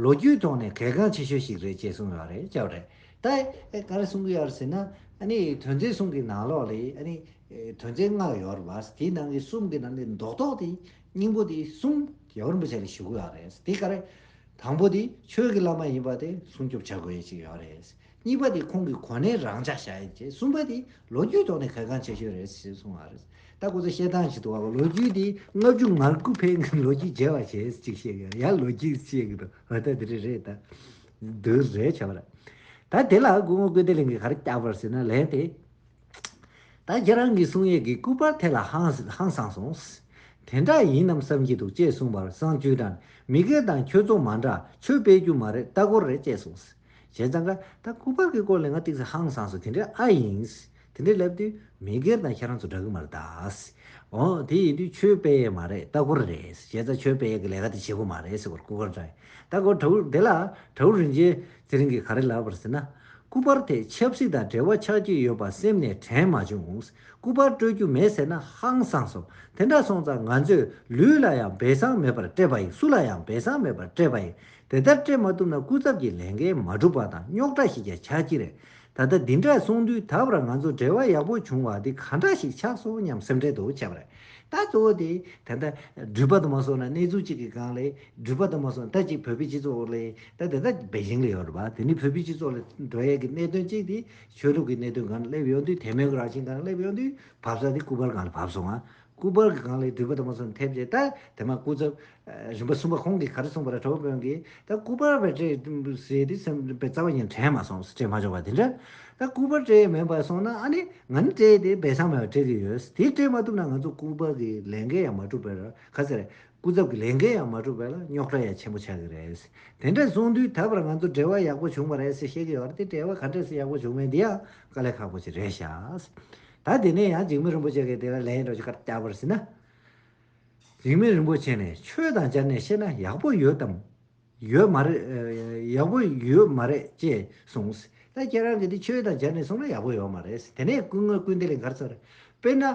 ལོ་རྒྱུས་ཐོག་ནས་གལ་འགངས་ཆེ་ཤོས་ཤིག་རེད་ཅེས་གསུངས་ཡོད་རེད་ཅེས་རེད། ད་ག་རེ་གསུང་གི་ཡོད་ཟེར་ན། དོན་མཛད་གསུམ་གྱི་ནང་ལོགས་ལས། དོན་མཛད་ལྔ་ཡོད་རེད་བ། དེའི་ནང་གི་གསུམ་གྱི་ནང་ནས་མདོག་མདོག་དེ། སྙིང་པོ་འདི་གསུམ་ཡར་བར་འབུལ་བྱ་རེ་ཞུ་དགོས་ཡོད་རེད། དེ་ག་རེད། དང་པོ་འདི་ཆོས་ཀྱི་བླ་མ་ཡིན་པ་དེ་སྲུང་སྐྱོབ་བྱ་དགོས་ཡོད་ཅིག་ཡོད་རེད། གཉིས་པ་འདི་ཁོང་གི་གོ་གནས་རང་འཇགས་བྱ་ཡོད་ཅེས་གསུམ་པ་འདི་ལོ་རྒྱུས་ཐོག་ནས་གལ་འགངས་ཆེ་ཤོས་རེད་ཅེས་གསུངས་པ་རེད། ད་སྐུ་ཚེ་བཤད་སྟངས་ཞིག་ཏུ་བ་ལོ་རྒྱུས་འདི་ལྔ་བཅུ་ང་དགུ་འཕེལ་མཁན་ལོ་རྒྱུས་རྒྱས་པ་ཞེས་ཅིག་བཤད་ཀྱི་ཡར་ལོ་རྒྱུས་བཤད་ཀྱི་འདུག་འོ་ད་འདི་རེ་རེད་ད། འདི་རེད་བྱ་བ་རེད། ད་དེ་ལ་སྐུ་ངོ་ཀུན་བདེ་གླིང་གིས་ག་རེ་བསྐྱར་བར་ཟེར་ན་ལན་དེ་ད་ཁྱེད་རང་གི་གསུང་ཡས་ཀྱི་སྐུ་པར་དེ་ལ་ཧང་སངས་སོང། དེ་འདྲ་ཡིན་ནམ་བསམ་གྱི་འདུག་ཅེས་གསུངས་པར་བསང་ཆུའི་སྒྲ་ནི་མི་སྒེར་དང་ཁྱོད་ཚོ་མ་འདྲ་ཆོས་སྤེལ་རྒྱུ་མ་རེད་ལྟ་སྐོར་རེད་ཅེས་གསུངས། བྱས་ཙང་ཀ་ད་སྐུ་པར་གྱི་སྐོར་ལས་ང་ཏིག་སེ་ཧང་སངས་སོང་དེ་འདྲ་ཨ་ཡིན། དེ་འདྲ་སླེབས་དུས་མི་སྒེར་དང་ཁྱེད་རང་ཚོ་འདྲ་གི་མ་རེད་ད། འོ་དེ་ཡིན་དུས་ཆོས་སྤེལ་ཡས་མ་རེད་ལྟ་སྐོར་རེད། བྱས་ཙང་ཆོས་སྤེལ་ཡས་ཀྱི་ལས་ཀ་དེ་བྱེད་དགོས་མ་རེད་ཟེར་བར་སྐུ་པར་འདྲ་ཡིན་ལྟ་སྐོར་དྲ་བུ་དེ་ལ་དྲ་བུ་རིན་ཆེན་དེ་རིང་གི་ག་རེ་ལབ་པར་ཟེར་ན། སྐུ་པར་དེས་ཆབ་སྲིད་དང་འབྲེལ་བ་ཆགས་ཀྱི་ཡོད་པ་སེམས་ནས་དྲན་མ་བྱུང། སྐུ་པར་སྤྲོད་རྒྱུ་མེད་ཟེར་ན་ཧང་སངས་སོ། དེ་འདྲ་སོང་ཙང་ང་ཚོས་ལུས་ལ་ཡང་སྦས་གསང་མེད་པར་སྤྲད་པ་ཡིན་སུ་ལ་ཡང་སྦས་གསང་མེད་པར་སྤྲད་པ་ཡིན། དེ་ལྟར་སྤྲད་མ་ཐུབ་ན་སྐུ་ཚབ་ཀྱི་ལས་འགན་མ་འགྲུབ་པ་དང་རྙོག་དྲ་ཞིག་ཀྱང་ཆགས་ཀྱི་རེད། ད་ལྟ་འདི་འདྲ་གསུངས་དུས་ད་བར་ང་ཚོ་འབྲེལ་བ་ཡག་པོ་བྱུང་བ་འདི་ག་འདྲ་ཞིག་ཆགས་སོང་སྙམ་སེམས་ཁྲལ་དུ་བྱས་པ་རེད། ད་གཙོ་བོ་དེ། ད་ལྟ་འགྲུལ་པ་དུ་མ་སོང་ན་གནས་ཚུལ་གཅིག་གི་སྒང་ལས་འགྲུལ་པ་དང་མ་སོང་ད་ཅིག་བོད་པའི་སྤྱི་ཚོགས་འོག་ལ་ཡིན་ད་དེ་དག་སྦེ་ཇིང་ལ་ཡོད་རེད་བ་དེ་ནི་བོད་པའི་སྤྱི་ཚོགས་ལ་འགྲོ་ཡས་ཀྱི་གནད་དོན་གཅིག་དེ་ཆོས་ལུགས་ཀྱི་གནད་དོན་གང་ལ་སླེབས་ཡོང་དུས་དེ་མེན་གོ་རང་བཞིན་གང་ལ་སླེབས་ཡོང་དུས་བབས་ས་དེ་སྐུ་པར་གང་ལ་བབས་སོང་ང་སྐུ་པར་གི་གང་ལ་འགྲུལ་པ་དང་མ་སོང་ཐེབས་རྗེས་ད་དེ་མ་སྐུ་ཚབ་རིམ་པ་གསུམ་པ་ཁོང་གིས་ག་རེ་གསུངས་པ་ར་གྲོགས་དཔོན་གིས་ད་སྐུ་པར་བས་སྤྲད་ཟེར་དུས་སེམས་པའི་རྩ་བ་ཡང་དྲན་མ་སོང་སྤྲད་མ་ཆོག་པ་དེ་འདྲ་ད་སྐུ་པར་སྤྲད་ཡས་མེད་པ་སོང་ན་ཨ་ནི་ང་ནི་སྤྲད་དེ་སྦེ་སངས་མེད་པ་སྤྲད་ཀྱི་ཡོད་དེ་སྤྲད་མ་ཐུབ་ན་ང་ཚོ་སྐུ་པར་གྱི་ལས་འགན་ཡང་མ་འགྲུབ་པས་ར་ག་ཟེར་སྐུ་ཚབ་ཀྱི་ལས་འགན་ཡང་མ་འགྲུབ་པས་ལ་རྙོག་དྲ་ཡང་ཆེན་པོ་ཆགས་ཀྱི་རེད། དེ་འདྲས་གསུངས་དུས་ད་བར་ང་ཚོ་འབྲེལ་བ་ཡག་པོ་བྱུང་བ་རེད་ཟེར་བཤད་ཀྱི་ཡོད་རེད་དེ་འབྲེལ་བ་ག་འདྲས་སུ་ཡག་པོ་བྱུང་མེད་འདི་ཡང་དཀའ་ལས་ཁག་པོ་ཞིག་རེད་ཤག། ད་དེ་ནས་ཡང་འཇིགས་མེད་རིན་པོ་ཆེ་གིས་དེ་ལ་ལན་རེ་བཀར་བསྐྱར་བར་ཟིན་ན། འཇིགས་མེད་རིན་པོ་ཆེ་ནས་ཆོས་དང་སྦྱར་ནས་བཤད་ན་ཡག་པོ་ཡོད་དམ། ཡོད་མ་རེད། ཡག་པོ་ཡོད་མ་རེད་ཅེས་གསུངས། ད་ཁྱེད་རང་གིས་འདི་ཆོས་དང་སྦྱར་ནས་གསུངས་ན་ཡག་པོ་ཡོད་མ་རེད། དེ་ནས་སྐུ་ངོས་སྐུ་འདི་ལས་འགར་ཚར། དཔེར་ན།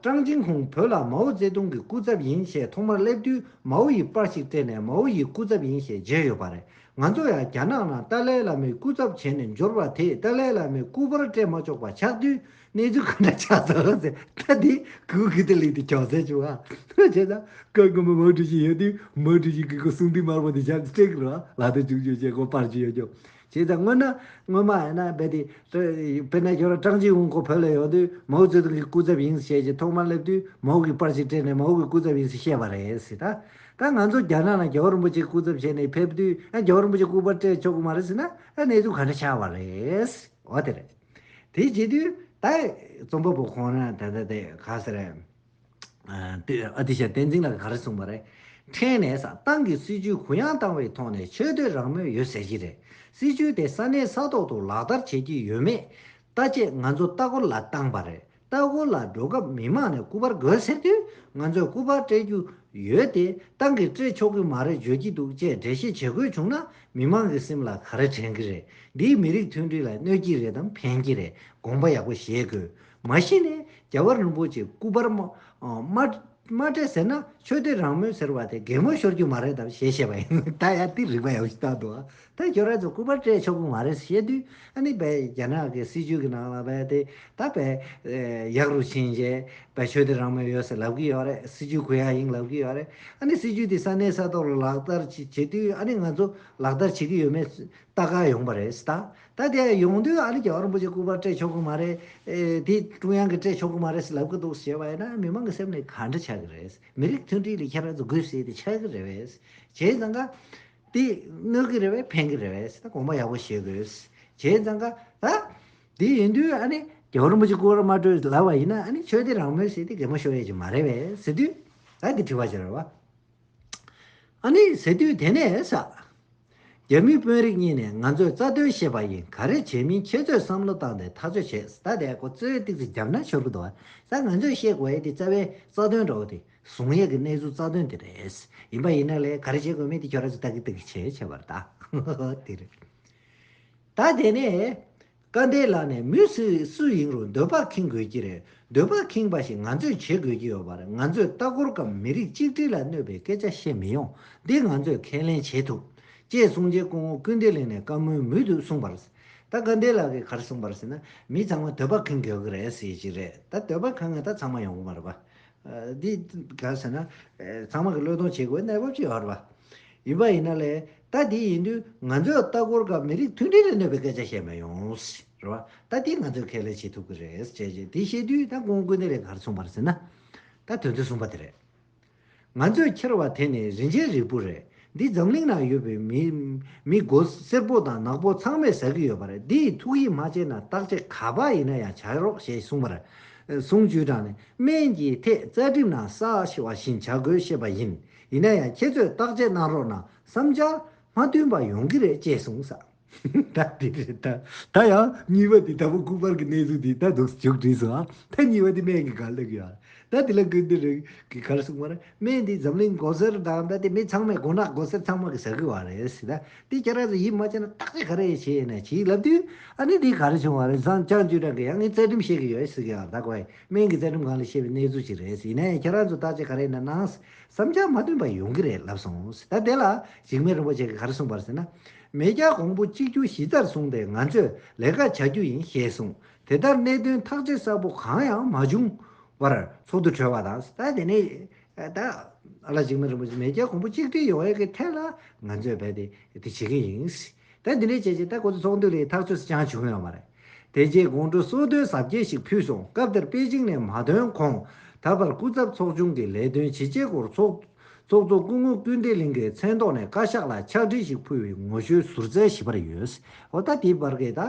ཀྲང་ཅིན་ཧུང་བོད་ལ་མའོ་ཙེ་ཏུང་གི་སྐུ་ཚབ་ཡིན་ཞེས་ཐོག་མར་སླེབས་དུས་མའོ་ཡི་པར་ཞིག་སྤྲད་ནས་མའོ་ཡི་སྐུ་ཚབ་ཡིན་ཞེས་བརྗོད་ཡོད་པ་རེད། ང་ཚོ་ཡང་རྒྱ་ནག་ནང་ཏཱ་ལའི་བླ་མའི་སྐུ་ཚབ་བྱས་ནས་འབྱོར་བ་དེས་ཏཱ་ལའི་བླ་མའི་སྐུ་པར་སྤྲད་མ་ཆོག་པ་ཆགས་དུས་གནས་ཚུལ་ག་འདྲ་ཆགས་སོང་ཟེར་ན་དེ་གུ་གུལ་དུ་ལེན་དུས་ཅུང་ཟད་ཆུང་བ་བྱས་ན་སྐབས་སྔོན་མའོ་ཀྲུའུ་ཞི་ཡོད་དུས་མའོ་ཀྲུའུ་ཞིའི་གུ་གུལ་གསུང་དུས་དམར་པོ་དེ་ཞག་སྟེང་ར་ལག་ཏུ་བཅུག་ཆོག་ཅེས་སྐོར་པར་བརྗོད་ཡོད་ཀྱང། ཅེས་དང་སྔོན་ན་སྔོན་མ་ཡིན་ན་རྦད་དེ། དཔེར་ན་ཁྱོད་རང་ཀྲང་ཅིན་ཝུན་ཁོ་བོད་ལ་ཡོང་དུས་མའོ་ཙེ་ཏུང་གི་སྐུ་ཚབ་ཡིན་ཞེས་ཀྱི་ཐོག་མར་སླེབས་དུས་མའོ་གིས་པར་ཞིག་སྤྲད་ནས་མའོ་གི་སྐུ་ཚབ་ཡིན་ཞེས་བཤད་པ་རེད། ཟེར། ད་ང་ཚོ་རྒྱ་ནག་ནང་རྒྱལ་བ་རིན་པོ་ཆེ་སྐུ་ཚབ་བྱས་ནས་ཕེབས་དུས་ཨ་རྒྱལ་བ་རིན་པོ་ཆེ་སྐུ་པར་སྤྲད་ཆོག་གི་མ་རེད་ཟེར་ན་ཨ་གནས་ཚུལ་ག་འདྲ་ཆགས་པ་རེད། འོ་དེ་རེད། དེ་བྱེད་དུས་ད་རྩོམ་པ་པོ་ཁོང་རང་དེ་འདྲ་དེ་ག་ཟེར། ཨ་ཏི་ཤ་བསྟན་འཛིན་ལགས་ག་རེ་གསུངས་པ་རེད། ཕྲན་ནས་ས་ཏང་གི་སྲིད་ཇུས་གུ་ཡངས་བཏང་བའི་ཐོག་ནས་ཆོས་བསྟོད་རང་མོས་ཡོད་ཟེར་གྱི་རེད། སྲིད་ཇུས་དེ་ས་གནས་ས་ཐོག་ཏུ་ལག་བསྟར་བྱེད་ཀྱི་ཡོད་མེད་ལྟ་ཆེད་ང་ཚོ་ལྟ་སྐོར་ལ་བཏང་པ་རེད། ལྟ་སྐོར་ལ་འགྲོ་སྐབས་མི་མང་ནས་སྐུ་པར་དགོས་ཟེར་དུས་ང་ཚོས་སྐུ་པར་སྤྲད་རྒྱུ་ཡོད་དེ་ཏང་གིས་སྤྲད་ཆོག་གི་མ་རེད་བརྗོད་ཀྱི་འདུག་ཅེས་འགྲེལ་བཤད་བྱེད་དགོས་བྱུང་ན་མི་མང་གི་སེམས་ལ་ག་རེ་དྲན་གྱི་རེད། འདིས་མི་རིགས་མཐུན་སྒྲིལ་ལ་གནོད་ཀྱི་རེད་དམ་ཕན་གྱི་རེད་དགོངས་པ་ཡག་པོ་བཞེས་དགོས། མ་གཞི་ནས་རྒྱལ་བ་རིན་པོ་ཆེའི་སྐུ་པར་དམར་བྲིས་ཟེར་ན་ཆོས་དད་རང་མོས་ཟེར་བ་དེ་གད་མོ་ཤོར་རྒྱུ་མ་རེད་དམ་ཞེས་བཤད་པ་ཡིན། ད་ཡར་དེ་རིགས་པ་ཡག་ཤོས་བཏང་འདུག་ད་ཁྱོད་རང་ཚོས་སྐུ་པར་སྤྲད་ཆོག་གི་མ་རེད་བཤད་དུས་ཨ་ནི་བལ་རྒྱ་ནག་གི་སྲིད་ཇུས་ཀྱི་ནང་ལ་བལ་དེ་ད་བལ་ཡག་རུ་ཕྱིན་རྗེས་བལ་ཆོས་དད་རང་མོས་ཡོད་སའི་ལབ་གི་ཡོད་རེད་སྲིད་ཇུས་གུ་ཡངས་ཡིན་ལབ་གི་ཡོད་རེད་ཨ་ནི་སྲིད་ཇུས་དེ་ས་གནས་ས་ཐོག་ལ་ལག་བསྟར་བྱེད་དུས་ཨ་ནི་ང་ཚོ་ལག་བསྟར་བྱེད་ཀྱི་ཡོད་མེད་ལྟ་ག་ཡོང་པ་རེད་ད། ད་དེ་ཡོང་དུས་ཨ་རི་རྒྱ་གར་རིན་པོ་ཆེ་སྐུ་པར་སྤྲད་ཆོག་གི་མ་རེད། དེ་ཀྲུང་དབྱང་གིས་སྤྲད་ཆོག་གི་མ་རེད་ལབ་ཀི་འདུག་ཞེས་པ་ཡིན་ན་མི་མང་གི་སེམས་ནས་ག་འདྲ་ཆགས་ཀི་རེད། མི་རིགས་མཐུན་སྒྲིལ་ལས་ཁྱེད་རང་ཚོ་དགོས་ཟེར་ཏེ་ཆགས་ཀི་རེད། བྱས་ཙང་ཀ། དེ་དངོས་ཀི་རེད་བས་ཕན་གི་རེད་ད་གོང་མ་ཡག་པོ་བྱེད་དགོས། བྱས་ཙང་ཀ། ད། དེ་ཡིན་དུས་ཨ་ནི་རྒྱ་གར་རིན་པོ་ཆེ་སྐུ་པར་མ་སྤྲོད་ལབ་པ་ཡིན་ན་ཨ་ནི་ཆོས་དད་རང་མོས་ཟེར་ཏེ་གད་མོ་ཤོར་ཡས་ཀྱི་མ་རེད་བས་ཟེར་དུས། ད་དེ་དྲི་བ་བྱེད་རོགས། ཨ་ནི་ཟེར་དུས་དེ་ནས་ས། རྒྱ་མི་དཔོན་རིགས་གཉིས་ནས་ང་ཚོས་རྩ་དོན་ཤེས་པ་ཡིན་ག་རེ་བྱས་མིན་ཁྱེད་ཚོས་བསམ་བློ་བཏང་ནས་ཐག་གཅོད་བྱེད་ས་དེ་ཁོ་ཚོས་སྟིག་རྩི་རྒྱབ་ན་ཤོར་གི་འདུག་ད་ང་ཚོས་ཤེས་དགོས་དེ་རྩ་བའི་རྩ་དོན་འགྲོ་བ་དེ་གཟུང་ཡས་ཀྱི་གནས་ཚུལ་རྩ་དོན་དེ་རེད་ཡིན་པ་ཡིན་ན་ལས་ག་རེ་བྱེད་དགོས་མིན་དེ་ཁྱོད་ར་ཚོས་ལྟ་གི་ལྟ་གི་བྱས་བྱས་པར་ད། ད་དེ་ནས་བཀའ་འདས་ལགས་ནས་མི་སུས་སུ་ཡིན་རུང་འདོད་པ་ཁེངས་དགོས་ཀྱི་རེད་འདོད་པ་ཁེངས་པ་ཞིག་ང་ཚོས་བྱེད་དགོས་ཀྱི་ཡོད་པ་རེད་ང་ཚོས་ལྟ་སྐོར་གམ་མི་རིགས་གཅིག་སྒྲིལ་ལ་གནོད་པའི་སྐད་ཆ་བཤད་མི་ཡོང་འདི་ང་ཚོས་ཁས་ལེན་བྱེད་ཐུབ། ཅེས་གསུང་རྗེས་སྐུ་ངོ་ཀུན་བདེ་ལེགས་ནས་བཀའ་མོལ་མུས་དུ་གསུངས་པར། ད་བཀའ་འདས་ལགས་ཀྱིས་གར་གསུངས་པར་ཟེར་ན་མི་ཚང་མ་འདོད་པ་ཁེངས་དགོས་ཀྱི་རེད་ཟེར་གྱི་རེད་ད་འདོད་པ་ཁེངས་ན་ད་ཚང་མ་ཡོང་གི་མ་རེད་པ། འདི་ག་ཟེར་ན། ཚང་མ་གི་བློས་གཏོང་བྱེད་དགོས་གནས་བབ་ཅིག་ཡོད་རེད། ཡིན་པ་ཡིན་ན་ལས་ད་འདི་ཡིན་དུས་ང་ཚོས་ལྟ་སྐོར་སྐབས་མི་རིགས་མཐུན་སྒྲིལ་ལས་གནོད་པའི་སྐད་ཆ་བཤད་མི་ཡོང། རེད་བ། ད་འདི་ང་ཚོས་ཁས་ལེན་བྱེད་ཐུབ་གི་རེད། བྱས་རྗེས་འདི་བཤད་དུས་ད་ཁོང་སྐུ་ནི་རེད་གར་སོང་བར་ཟེར་ན། ད་དོན་ཚོད་གསུམ་པ་དེ་རེད། ང་ཚོས་འཁྱེར་བ་དེ་ནི་རིན་ཆེན་རིལ་བུ་རེད། འདི་འཛམ་གླིང་ན་ཡོད་པའི་མི་མི་སྒོ་སེར་པོ་དང་ནག་པོ་ཚང་མས་ཟ་གི་ཡོད་པ་རེད་འདི་ཡི་ཐུགས་ཡིད་མ་ཆེས་ན་བརྟག་དཔྱད་ག་པ་ཡིན་ན་ཡང་བྱ་རོགས་ཞེས་གསུངས་པར། གསུང་ཇུས་དང་ནི་སྨན་གྱི་ཐད་རྩ་ཁྲིམས་ན་ས་བྱེ་བ་བཞིན་བྱ་དགོས་བཤད་པ་ཡིན་ཡིན་ན་ཡང་ཁྱེད་ཚོས་བརྟག་དཔྱད་གནང་རོགས་གནང་བསམ་འཆར་མ་མཐུན་པ་ཡོང་གི་རེད་ཅེས་གསུངས། ད་དེ་རེད་ད། ད་ཡང་གཉིས་པ་དེ་ད་བུ་སྐུ་དཔར་གྱི་གནས་ཚུལ་དེ་ད་དུག་ཅུག་བྲིས་སོང་ཨ། ད་གཉིས་པ་དེ་སྨན་གྱི་གར་ལེགས་ཡོད་ཨ། ད་དེ་ལ་ཀུན་ཏུ་རིག་གི་གར་གསུངས་པ་རེད། སྨན་དེ་འཛམ་གླིང་མགོ་སེར་དང་ད་ལྟའི་མི་ཚང་མས་མགོ་ནག་མགོ་སེར་ཚང་མ་གི་ཟ་གི་བ་རེད། ད་དེ་ཁྱེད་རང་ཚོས་ཡིད་མ་ཆེས་ན་བརྟག་དཔྱད་ག་རེ་བྱས་ནས་བྱེད་ཀྱི་ལབ་དུས། ཨ་ནི་དེ་ག་རེ་བྱུང་བ་རེད་བཟང་ལྕགས་ཀྱུ་དྲག་གི་ཡང་ངས་རྩལ་སྒྲིམ་བཤད་ཀྱི་ཡོད་ཟེར་གྱི་ཡང་ད་གོ་ཨེ། སྨན་གྱི་རྩལ་སྒྲིམ་གང་ལ་བཤད་པའི་གནས་ཚུལ་ཞིག་རེད་ཡིན་ནའི་ཁྱེད་རང་ཚོས་བརྟག་དཔྱད་ག་རེ་ནས་གནང། བསམ་འཆར་མ་བཏོན་པ་ཡོང་གི་རེད་ལབ་སོང། ད་དེ་ལ་ཞིག་སྨན་རིན་པོ་ཆེ་གི་གར་གསུངས་པར་ཟེར་ན། མེས་རྒྱལ་གོང་བུ་གཅིག་གྱུར་གཞི་རྩར་བཟུང་སྟེ་ང་ཚོས་ལས་ཀ་བྱ་རྒྱུ་ཡིན་ཞེས་གསུངས། དེ་ལྟར་གནད་དོན་ཐག་གཅོད་གསལ་པོ་གང་ཡང་མ་བྱུང་བར་ཚོགས་འདུ་གྲོལ་བ་དང། ད་དེ་ནས་ད་བླ་འཇིགས་མེད་རིན་པོ་ཆེས་མེས་རྒྱལ་གོང་བུ་གཅིག་སྒྲིལ་ཡོང་བའི་ཐད་ལ་ང་ཚོས་འབད་དེ་དེ་བྱེད་ཀྱི་ཡིན། ད་དེ་འདྲའི་བྱས་རྗེས་ད་གོ་ཚོད་ཚོགས་འདུ་ལས་ཐག་གཅོད་སུ་ཅང་བྱུང་ཡོད་མ་རེད། དེ་རྗེས་དགོང་དྲོ་གསོལ་སྟོན་གཟབ་རྒྱས་ཤིག་ཕུལ་སོང་སྐབས་དེར་པེ་ཅིང་ནས་མ་ཐོན་གོང་ད་བར་སྐུ་ཚབ་ཚོགས་ཆུང་གི་ལས་དོན་ཇི་བྱས་སྐོར་ཚོགས་ཚོགས་གཙོ་སྐུ་ངོ་སྐུལ་འདེད་གླིང་གི་མཚན་ཐོག་ནས་བཀའ་ཤག་ལ་ཕྱག་བྲིས་ཤིག་ཕུལ་བའི་ངོ་ཤོལ་ཟུར་བཙལ་ཞིབ་པར་ཡོད། འོ་ད་དེའི་བར་གྱི་ད།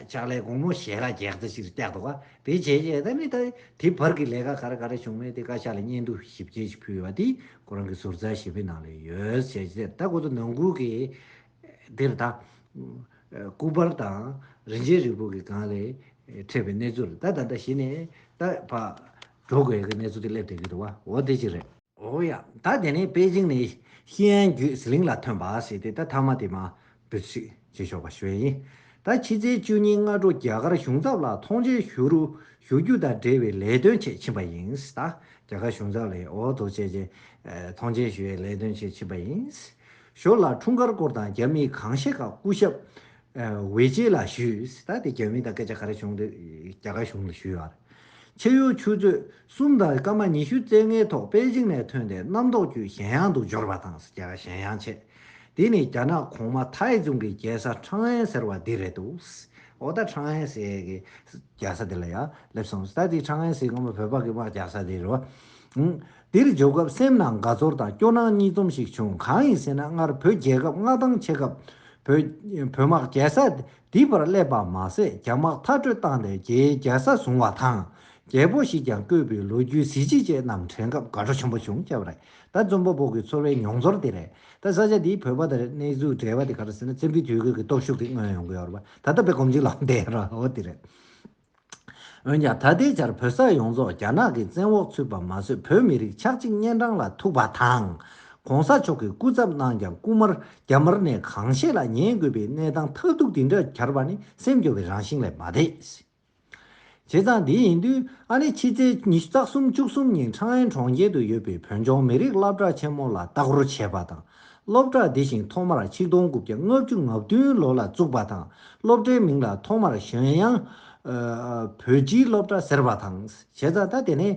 ཕྱག་ལས་དགོང་མོ་ཞལ་ཁ་རྒྱག་རྩ་ཞིག་བཏེག་འདུག་ག་དེ་བྱས་རྗེས་ད་ནི་ད། དེའི་བར་གྱི་ལས་ཀ་ག་རེ་ག་རེ་བྱུང་མེད་དེ་བཀའ་ཤག་ལ་སྙན་ཐོ་ཞིབ་རྒྱས་ཤིག་ཕུལ་བ་དེ་ཁོ་རང་གི་ཟུར་བཙལ་ཞིབ་པའི་ནང་ལས་ཡོད་ཞལ་ཆེ་དེར་ད་ཁོ་ཚོ་ནང་ཁུལ་གྱི། དེར་ད། སྐུ་པར་དང་རིན་ཆེན་རིལ་བུ་གྱི་སྒང་ལས། འཕྲད་པའི་གནས་ཚུལ་ལ་ད་ད་ལྟ་གཞི་ནས་ད། འགྲོ་དགོས་ཡག་གི་གནས་ཚུལ་དེ་སླེབས་བསྡད་ཀྱི་འདུག་བ་འོ་དེ་ཅི་རེད། འོ་ཡ། ད་དེ་ནས་པེ་ཅིང་ནས་ཤིན་ཨན་བརྒྱུད་ཟི་ལིང་ལ་ཐོན་པ་ཞེས་དེ་ད་ཐ་མ་དེ་མ་བུད་ཚིག་བྱེད་ཆོག་པ་ཞུ་ཡ་ཡིན། ད་ཕྱི་ཚེས་བཅུ་ཉིན་སྔ་དྲོ་རྒྱ་གར་གཞུང་ཚབ་ལ་མཐོང་མཆན་ཞུ་རུ་ཞུ་རྒྱུ་དང་འབྲེལ་བའི་ལས་དོན་ཆེད་ཕྱིན་པ་ཡིན། ད་རྒྱ་གར་གཞུང་ཚབ་ལས་འོ་དོ་བྱས་རྗེས་མཐོང་མཆན་ཞུ་བའི་ལས་དོན་ཆེད་ཕྱིན་པ་ཡིན། ཞོར་ལ་འཁྲུངས་སྐར་སྐོར་དང་རྒྱ་མི་གང་ཤེས་ཁག་སྐུ་ཞབས། ཝེ་ཅེ་ལ་ཞུས། ད་དེ་རྒྱ་མི་དང་སྐད་ཆ་ག་རེ་བྱུང་དེ་རྒྱ་གར་གཞུང་ལ་ཞུས་ཡོད། ཕྱེད་གཡོ་ཆུ་ཚོད་གསུམ་དང་སྐར་མ་ཉི་ཤུ་རྩེ་ལྔའི་ཐོག་པེ་ཅིང་ནས་ཐོན་ཏེ་གནམ་ཐོག་བརྒྱུད་ཞན་ཡང་དུ་འབྱོར་བ་དང་རྒྱ་གར་ཞན་ཡང་ཆེད་དེ་ནི་རྒྱ་ནག་གོང་མ་ཐའེ་ཙུང་གི་རྒྱལ་ས་ཁྲང་ཨན་ཟེར་བ་འདི་རེད་འདུག་འོ་ད་ཁྲང་ཨན་ཟེར་གི་རྒྱལ་ས་འདི་ལ་ཡང་སླེབས་སོང་ད་དེ་ཁྲང་ཨན་ཟེར་སྔོན་མ་བོད་འབངས་ཀྱི་དམག་རྒྱག་ས་དེ་རེད་བ། འདིར་འབྱོར་སྐབས་སེམས་ནང་དགའ་ཚོར་དང་སྐྱོ་སྣང་གཉིས་འཛོམས་ཤིག་བྱུང་གང་ཡིན་ཟེར་ན་སྔར་བོད་རྒྱལ་ཁབ་མངའ་ཐང་ཕྱེད་སྐབས། བོད་དམག་རྒྱལ་ས་འདི་པར་སླེབས་པ་མ་ཟད་རྒྱ་དམག་མཐར་སྐྲོད་བཏང་སྟེ་རྒྱའི་རྒྱལ་ས་བཟུང་བ་དང། རྒྱལ་པོ་ཞིག་ཀྱང་བསྐོས་པའི་ལོ་རྒྱུས་གཟི་བརྗིད་ཅན་རྣམས་དྲན་སྐབས་དགའ་སྤྲོ་ཆེན་པོ་བྱུང་སྐབས་རེད་ད་རྩོམ་པ་པོ་གི་ཚོར་བའི་མྱོང་ཚོར་དེ་རེད་ད་ས་ཆ་འདིའི་བོད་པ་དང་གནས་ཚུལ་འབྲེལ་བ་དེ་ག་རེ་ཟེར་ན་བཙན་པོའི་དུས་དགོས་ཀྱི་སྟོབས་ཤུགས་དེ་མངོན་ཡོང་གི་ཡོད་རེད་པ་ད་ལྟ་བོད་གོམ་སྤྱི་ལོ་འདས་རོགས་དེ་རེད། འོན་ཀྱང་ད་ལྟའི་ཆར་བོད་ས་ཡོངས་རྫོགས་རྒྱ་ནག་གི་བཙན་འོག་ཚུད་པ་མ་ཟོས་བོད་མི་རིགས་ཆག་འཇིག་གཉན་འཕྲང་ལ་ཐུག་པ་དང། གོང་ས་མཆོག་གི་སྐུ་ཚབ་གནང་ཀྱང་རྐུ་མར་རྒྱ་དམར་ནས་གང་ཤེས་ལ་ཉན་དགོས་པའི་གནས་སྟངས་མཐའ་གཏུགས་འདི་འདྲ་གྱར་བ་ནི་སེམས་སྐྱོ་བའི་རང་བཞིན་ལས་མ་འདས། བྱས་ཙང་འདི་ཡིན་དུས་ཨ་ནེ་ཕྱི་ཚེས་ཉི་ཤུ་རྩ་གསུམ་བཅུ་གསུམ་ཉིན་ཁྲང་ཨན་གྲོང་ཁྱེར་དུ་ཡོད་པའི་བོད་ལྗོངས་མི་རིགས་བླ་བྲག་ཆེན་མོ་ལ་བལྟ་སྐོར་བྱས་པ་དང། སློབ་གྲྭ་འདི་བཞིན་ཐོག་མར་ཆིག་སྟོང་དགུ་བརྒྱ་ལྔ་བཅུ་ང་བདུན་ལོ་ལ་བཙུགས་པ་དང་སློབ་གྲྭའི་མིང་ལ་ཐོག་མར་གཞོན་དབྱངས། བོད་སྤྱིའི་སློབ་གྲྭ་ཟེར་བ་དང། བྱས་ཙང་ད་དེ་ནས།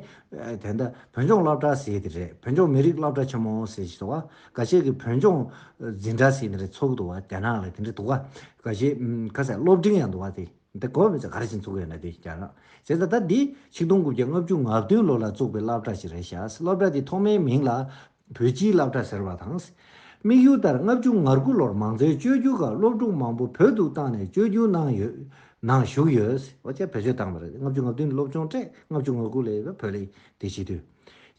དེ་ད་བོད་ལྗོངས་སློབ་གྲྭ་ཟེར་དེ་རེད་བོད་ལྗོངས་མི་རིགས་སློབ་གྲྭ་ཆེན་མོ་ཟེར་ཞེས་དང། ག་ཤེད་ཀྱི་བོད་ལྗོངས། འཛིན་གྲྭ་ཟེར་ནི་རེད་ཚོགས་འདུ་བ་དེ་ནང་ལ་དེ་འདྲ་འདུག་ག། ག་ཤེད། ཁ་ཟས་སློབ་འབྲིང་ཡང་འདུག་བ་དེ། དེ་གོ་མི་ཚ་ག་རེ་བྱེད་འཚུགས་ཡོད་ན་དེ་རྒྱ་ནག། བྱས་ཙང་ད་འདི་ཆིག་སྟོང་དགུ་བརྒྱ་ལྔ་བཅུ་ང་བདུན་ལོ་ལ་བཙུགས་པའི་སླབ་གྲྭ་ཞིག་རེད་ཤག་སློབ་གྲྭ་འདི་ཐོག་མའི་མིང་ལ་བོད་སྤྱིའི་སླབ་གྲྭ་ཟེར་བ་དང། དམིགས་ཡུལ་ལྟར་ལྔ་བཅུ་ང་དགུ་ལོར་མང་གཙོའི་བཅོས་སྒྱུར་ཁག་སློབ་ཕྲུག་མང་པོ་བོད་དུ་བཏང་ནས་བཅོས་སྒྱུར་གནང་ཡོད། ནང་ཞུགས་ཡོད། བོད་སྤྱིའི་བེད་སྤྱོད་བཏང་བ་རེད། ལྔ་བཅུ་ང་བདུན་སློབ་ཆུང་སྤྲད་ལྔ་བཅུ་ང་དགུ་ལས་བོད་ལས་འདས་ཕྱིན་དུས།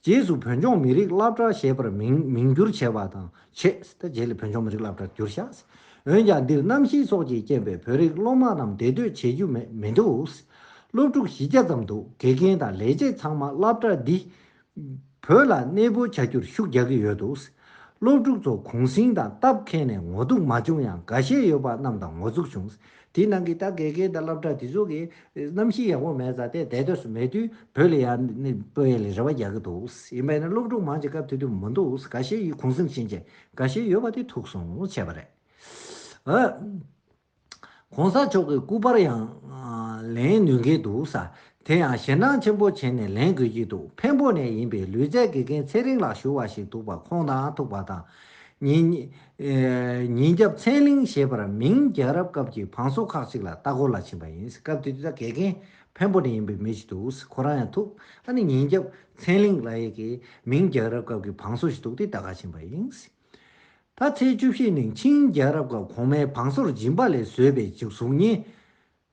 རྗེས་སུ་བོད་ལྗོངས་མི་རིགས་སླབ་གྲྭ་ཞེས་པར་མིང་མིང་བསྒྱུར་བྱས་པ་དང་ཆེས་དེ་རྗེས་ལས་བོད་ལྗོངས་མི་རིགས་སླབ་གྲྭར་བསྒྱུར་ཤག། འོན་ཀྱང་འདིར་གནམ་གཤིས་སོགས་ཀྱིས་རྐྱེན་པས་བོད་རིགས་སློབ་མ་རྣམས་བདེ་སྡོད་བྱེད་རྒྱུ་མེད་མི་འདུག། སློབ་ཕྲུག་བཞི་བརྒྱ་ཙམ་འདུག་དགེ་རྒན་དང་ལས་བྱེད་ཚང་མ་སླབ་གྲྭ་འདི་བོད་ལ་གནས་སྤོ་བྱ་རྒྱུར་ཤུགས་རྒྱག་གི་ཡོད་འདུག་སློབ་ཕྲུག་ཚོ་གུང་སེང་དང་སྟབས་ཁེངས་ནས་ངོ་གཏུག་མ་བྱུང་ཡང་འགའ་ཤས་ཡོད་པ་རྣམས་དང་ངོ་གཙུགས་བྱུང། དེའི་ནང་གི་ད་གེ་གེ་དང་བསླབ་གྲྭ་དེ་ཚོ་གི་གནམ་གཤིས་ཡག་པོ་མེད་ཙང་དེ་འདས་དུས་སུ་མེད་དུས་བོད་ལ་ཡང་གནས་སྤོ་ཡ་ལས་རེ་བ་རྒྱག་གི་འདུག་ཡིན་པས་ན་སློབ་ཕྲུག་མང་ཅིག་སྐབས་དེ་དུས་མི་འདུག་ག་ཤེད་ཡིད་གུང་སེང་བྱིན་རྗེས་འགའ་ཤས་ཡོད་པ་དེ་ཐུག་སོང་བྱས་པ་རེད། གོང་ས་མཆོག་གི་སྐུ་པར་ཡང་ལེན་ནུས་མཁན་འདུག་ས་དེ་ཡང་ཞེད་སྣང་ཆེན་པོ་བྱེད་ནས་ལེན་དགོས་ཀྱི་འདུག་འཕན་པོ་ནས་ཡིན་པའི་ལུས་རྩལ་དགེ་རྒན་ཚེ་རིང་ལགས་ཞུ་བ་ཞིག་འདུག་པ་ཁོང་དང་ཐུག་པ་དང། ཉིན་རྒྱབ་མཚན་གླིང་ཞེས་པར་མིང་རྒྱལ་རབས་སྐབས་ཀྱི་བང་སོ་ཁག་ཅིག་ལ་ལྟ་སྐོར་ལ་ཕྱིན་པ་ཡིན་སྐབས་དེ་དུས་དགེ་རྒན་འཕན་པོ་ནས་ཡིན་པའི་མི་ཞིག་འདུག་ས་ཁོ་རང་ཡང་ཐུག་ཨ་ནི་ཉིན་རྒྱབ་མཚན་གླིང་ལ་ཡི་གེ་མིང་རྒྱལ་རབས་སྐབས་ཀྱི་བང་སོ་ཞིག་འདུག་དེ་ལྟ་ག་ཕྱིན་པ་ཡིན་སྲིད། ད་ཚེས་བཅུ་བཞི་ནི་ཆིང་རྒྱལ་རབས་སྐབས་གོང་མའི་བང་སོར་སྦྱིན་པ་ལས་བཟོས་པའི་གཟུགས་བརྙན།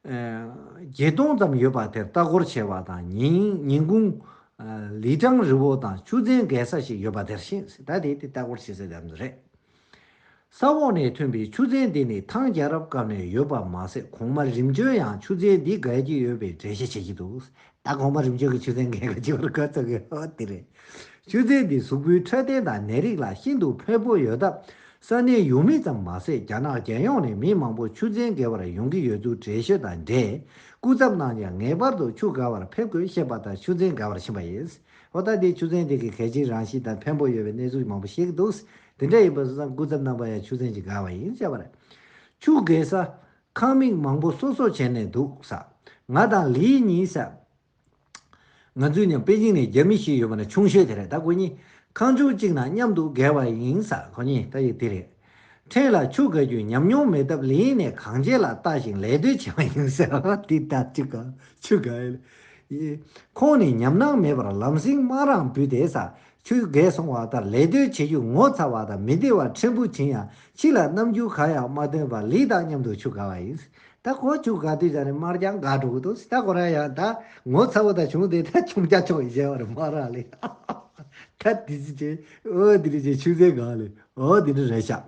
བརྒྱད་སྟོང་ཙམ་ཡོད་པ་དེར་ལྟ་སྐོར་བྱས་པ་དང་ཉིན་གུང། ལི་ཀྲང་རི་བོ་དང་ཆུ་ཚན་བརྒལ་ས་ཞིག་ཡོད་པ་དེར་ཕྱིན་སྲིད་ད་དེ་དེ་ལྟ་སྐོར་བྱེད་སའི་ལམ་དུ་རེད། ས་འོག་ནས་ཐོན་པའི་ཆུ་ཚན་འདི་ནི་ཐང་རྒྱལ་རབས་སྐབས་ནས་ཡོད་པ་མ་ཟད་གོང་མ་རིམ་བྱོན་ཡང་ཆུ་ཚན་འདི་བརྒལ་གྱི་ཡོད་པའི་འགྲེལ་བཤད་བྱེད་ཀྱི་འདུག་ད་གོང་མ་རིམ་བྱོན་གྱི་ཆུ་ཚན་འགའི་ཁ་ཕྱེ་བར་གོ་ཐུབ་ཡོད་དེ་རེད། ཆུ་ཚན་འདི་གཟུགས་པོའི་འཕྲོད་བསྟེན་དང་ནད་རིགས་ལ་ཤིན་ཏུ་ཕན་པོ་ཡོད་སྟབས་ས་གནས་ཡུལ་མི་ཙམ་མ་ཟད་རྒྱ་ནག་རྒྱལ་ཡོངས་ནས་མི་མང་པོ་ཆུ་ཚན་འགའི་བར་ཡོང་གི་ཡོད་ཚུལ་འགྲེལ་བཤད་དང་འབྲེལ་སྐུ་ཚབ་གནང་རྗེས་ངེས་པར་དུ་ཆུ་འགའ་བར་ཕེབས་དགོས་ཞེས་པ་ལྟར་ཆུ་ཚན་འགའ་བར་ཕྱིན་པ་ཡིན། ཨོ་ད་དེ་ཆུ་ཚན་དེ་གའི་གལ་ཆེའི་རང་བཞིན་དང་ཕན་པོ་ཡོད་པའི་གནས་ཚུལ་མང་པོ་བཤད་ཀྱི་འདུག་དེ་འདྲ་ཡིན་པ་སོང་ཙང་སྐུ་ཚབ་རྣམ་པ་ཡང་ཆུ་ཚན་གྱི་འགའ་བ་ཡིན་བྱས་པ་རེད། ཆུ་འགའི་ས་ཁང་མིག་མང་པོ་གསོ་སོགས་བྱས་ནས་འདུག་ས། ང་དང་ལིའི་གཉིས་ས། ང་ཚོས་ནི་པེ་ཅིང་ནས་རྒྱ་མི་ཞིག་ཡོད་པ་ན་ཆུང་ཤོས་དེ་རེད་ད་ཁོ་གཉིས་ཁང་ཆུང་གཅིག་ནང་མཉམ་དུ་བརྒལ་བ་ཡིན་ས་ཁོ་གཉིས་ལྟ་ཡི་དེ་རེད། ཕྲན་ལ་ཆུ་བརྒལ་རྒྱུའི་ཉམས་མྱོང་མེད་སྟབས་ལིའི་ནས་གང་བྱས་ལ་བལྟ་ཞིང་ལད་ཟློས་བྱས་པ་ཡིན་ས། དེ་ལྟར་ཆུ་བརྒལ་ཆུ་བརྒལ། ཁོང་ནི་ཉམས་སྣང་མེད་པར་ལམ་སེང་སྨག་རང་བུད་དེ་ས་ཆུ་རྒལ་སོང་བ་ལྟར་ལད་ཟློས་བྱེད་རྒྱུ་ངོ་ཚ་བ་དང་མི་བདེ་བ་ཕྲན་བུ་བྱིན་ཡང་ཕྱི་ལ་རྣམ་འགྱུར་གང་ཡང་མ་སྟོན་པར་ལི་དང་མཉམ་དུ་ཆུ་དགའ་བ་ཡིན། ད་ཁོ་ཆུ་དགའ་དུས་ཀྱང་ནི་མར་ཀྱང་དགའ་འགྲོ་གི་འདུག་ད་ཁོ་རང་ཡང་ད་ངོ་ཚ་བོ་དང་བྱུང་སྟེ་ད་ཆུང་སྐྱ་ཆོག་གཞལ་བར་མ་རག་ལས། ད་དེ་ཅི་བྱེད་འོ་དེ་རེད་ཅེས་ཆུ་རྫས་དགའ་ལས་འོ་དེ་འདྲ་རེད་བྱ།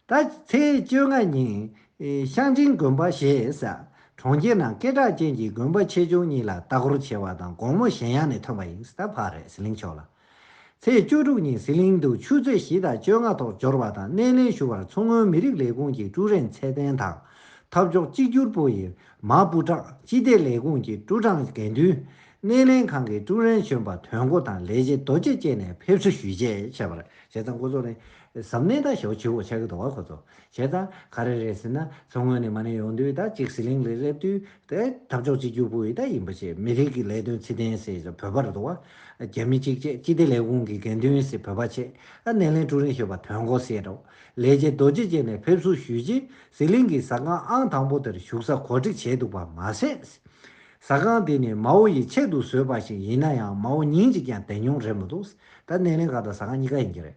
ད་ཚེས་བཅོ་ལྔ་ཉིན། ཤང་ཆིང་དགོན་པ་ཞེས་བྱ། གྲོང་ཁྱེར་ནང་སྐད་གྲགས་ཅན་གྱི་དགོན་པ་ཆེ་ཆུང་གཉིས་ལ་ལྟ་སྐོར་བྱེད་པ་དང་དགོང་མོ་གཞན་ཡང་ནས་ཐོན་པ་ཡིན་ད་བར་རས་གླིང་ཕྱོགས་ལ། ཚེས་བཅུ་དྲུག་ཉིན་ཟི་ལིང་དུ་ཆུ་ཚོད་བཞི་དང་བཅོ་ལྔ་ཐོག་འབྱོར་བ་དང་སྣེ་ལེན་ཞུ་བར་མཚོ་སྔོན་མི་རིགས་ལས་ཁུངས་ཀྱི་ཀྲུའུ་རེན་ཚེ་བརྟན་དང། འཐབ་ཕྱོགས་གཅིག་གྱུར་པུའུ་ཡི་མ་པུ་ཀྲང་སྤྱི་བདེ་ལས་ཁུངས་ཀྱི་ཀྲུའུ་ཀྲང་དགེ་འདུན། སྣེ་ལེན་ཁང་གི་ཀྲུའུ་རེན་གཞོན་པ་དོན་གོ་དང་ལས་བྱེད་རྡོ་རྗེ་བཅས་ནས་ཕེབས་བསུ་ཞུས་རྗེས་བྱས་པར་བྱས་ཙང་འགོ་ཚུགས་ནས་གཟབ་ནན་དང་ཞོག་ཆེ་བོ་ཆགས་ཀྱི་འདུག་བ་ཁོ་ཚོ། བྱས་ཙང་ག་རེ་རེད་ཟེར་ན་མཚོ་སྔོན་ནས་མ་ནས་ཡོང་དུས་དང་གཅིག་ཟི་ལིང་རེ་སླེབས་དུས། ཨེ། འཐབ་ཕྱོགས་གཅིག་གྱུར་པུའུ་ཡི་དང་ཡིན་པ་ཆེད་མི་རིགས་ཀྱི་ལས་དོན་ཚིག་ལྡན་ཟེར་ཡོད་ས་བོད་པ་རེད་འདུག་བ། རྒྱ་མི་གཅིག་བཅས་སྤྱི་བདེ་ལས་ཁུངས་ཀྱི་འགན་འདུན་ཟེར་བོད་པ་ཆེད་སྣེ་ལེན་ཀྲུའུ་རིན་ཞེས་པ་དོན་གོ་ཟེར་རོ། ལས་བྱེད་རྡོ་རྗེ་བཅས་ནས་ཕེབས་བསུ་ཞུས་རྗེས་ཟི་ལིང་གི་ཟ་ཁང་ཨང་དང་པོ་དེར་བཞུགས་ས་གོ་སྒྲིག་བྱས་འདུག་པ་མ་ཟད། ཟ་ཁང་དེ་ནི་མའོ་ཡིས་ཆེད་དུ་བཟོས་པ་ཞིག་ཡིན་ན་ཡང་མའོ་ཉིན་གཅིག་ཀྱང་དེ་མྱོང་རེད་མི་འདུག་ད་སྣེ་ལེན་ཁང་དང་ཟ་ཁང་གཉིས་ཀ་ཡིན་གྱི་རེད།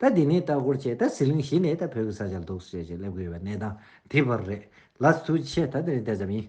ད་འདི་ནས་ལྟ་སྐོར་བྱས་ད་ཟི་ལིང་གཞི་ནས་ད་བོད་ཀྱི་ས་ཆར་འདུག་ཟེར་བྱས་ལབ་གི་ཡོད་པ་གནས་སྟངས་དེ་བར་རེད་ལ། ཚུལ་ཆད་ད་འདི་ནས་བལྟས་ཙམ་ཡིན།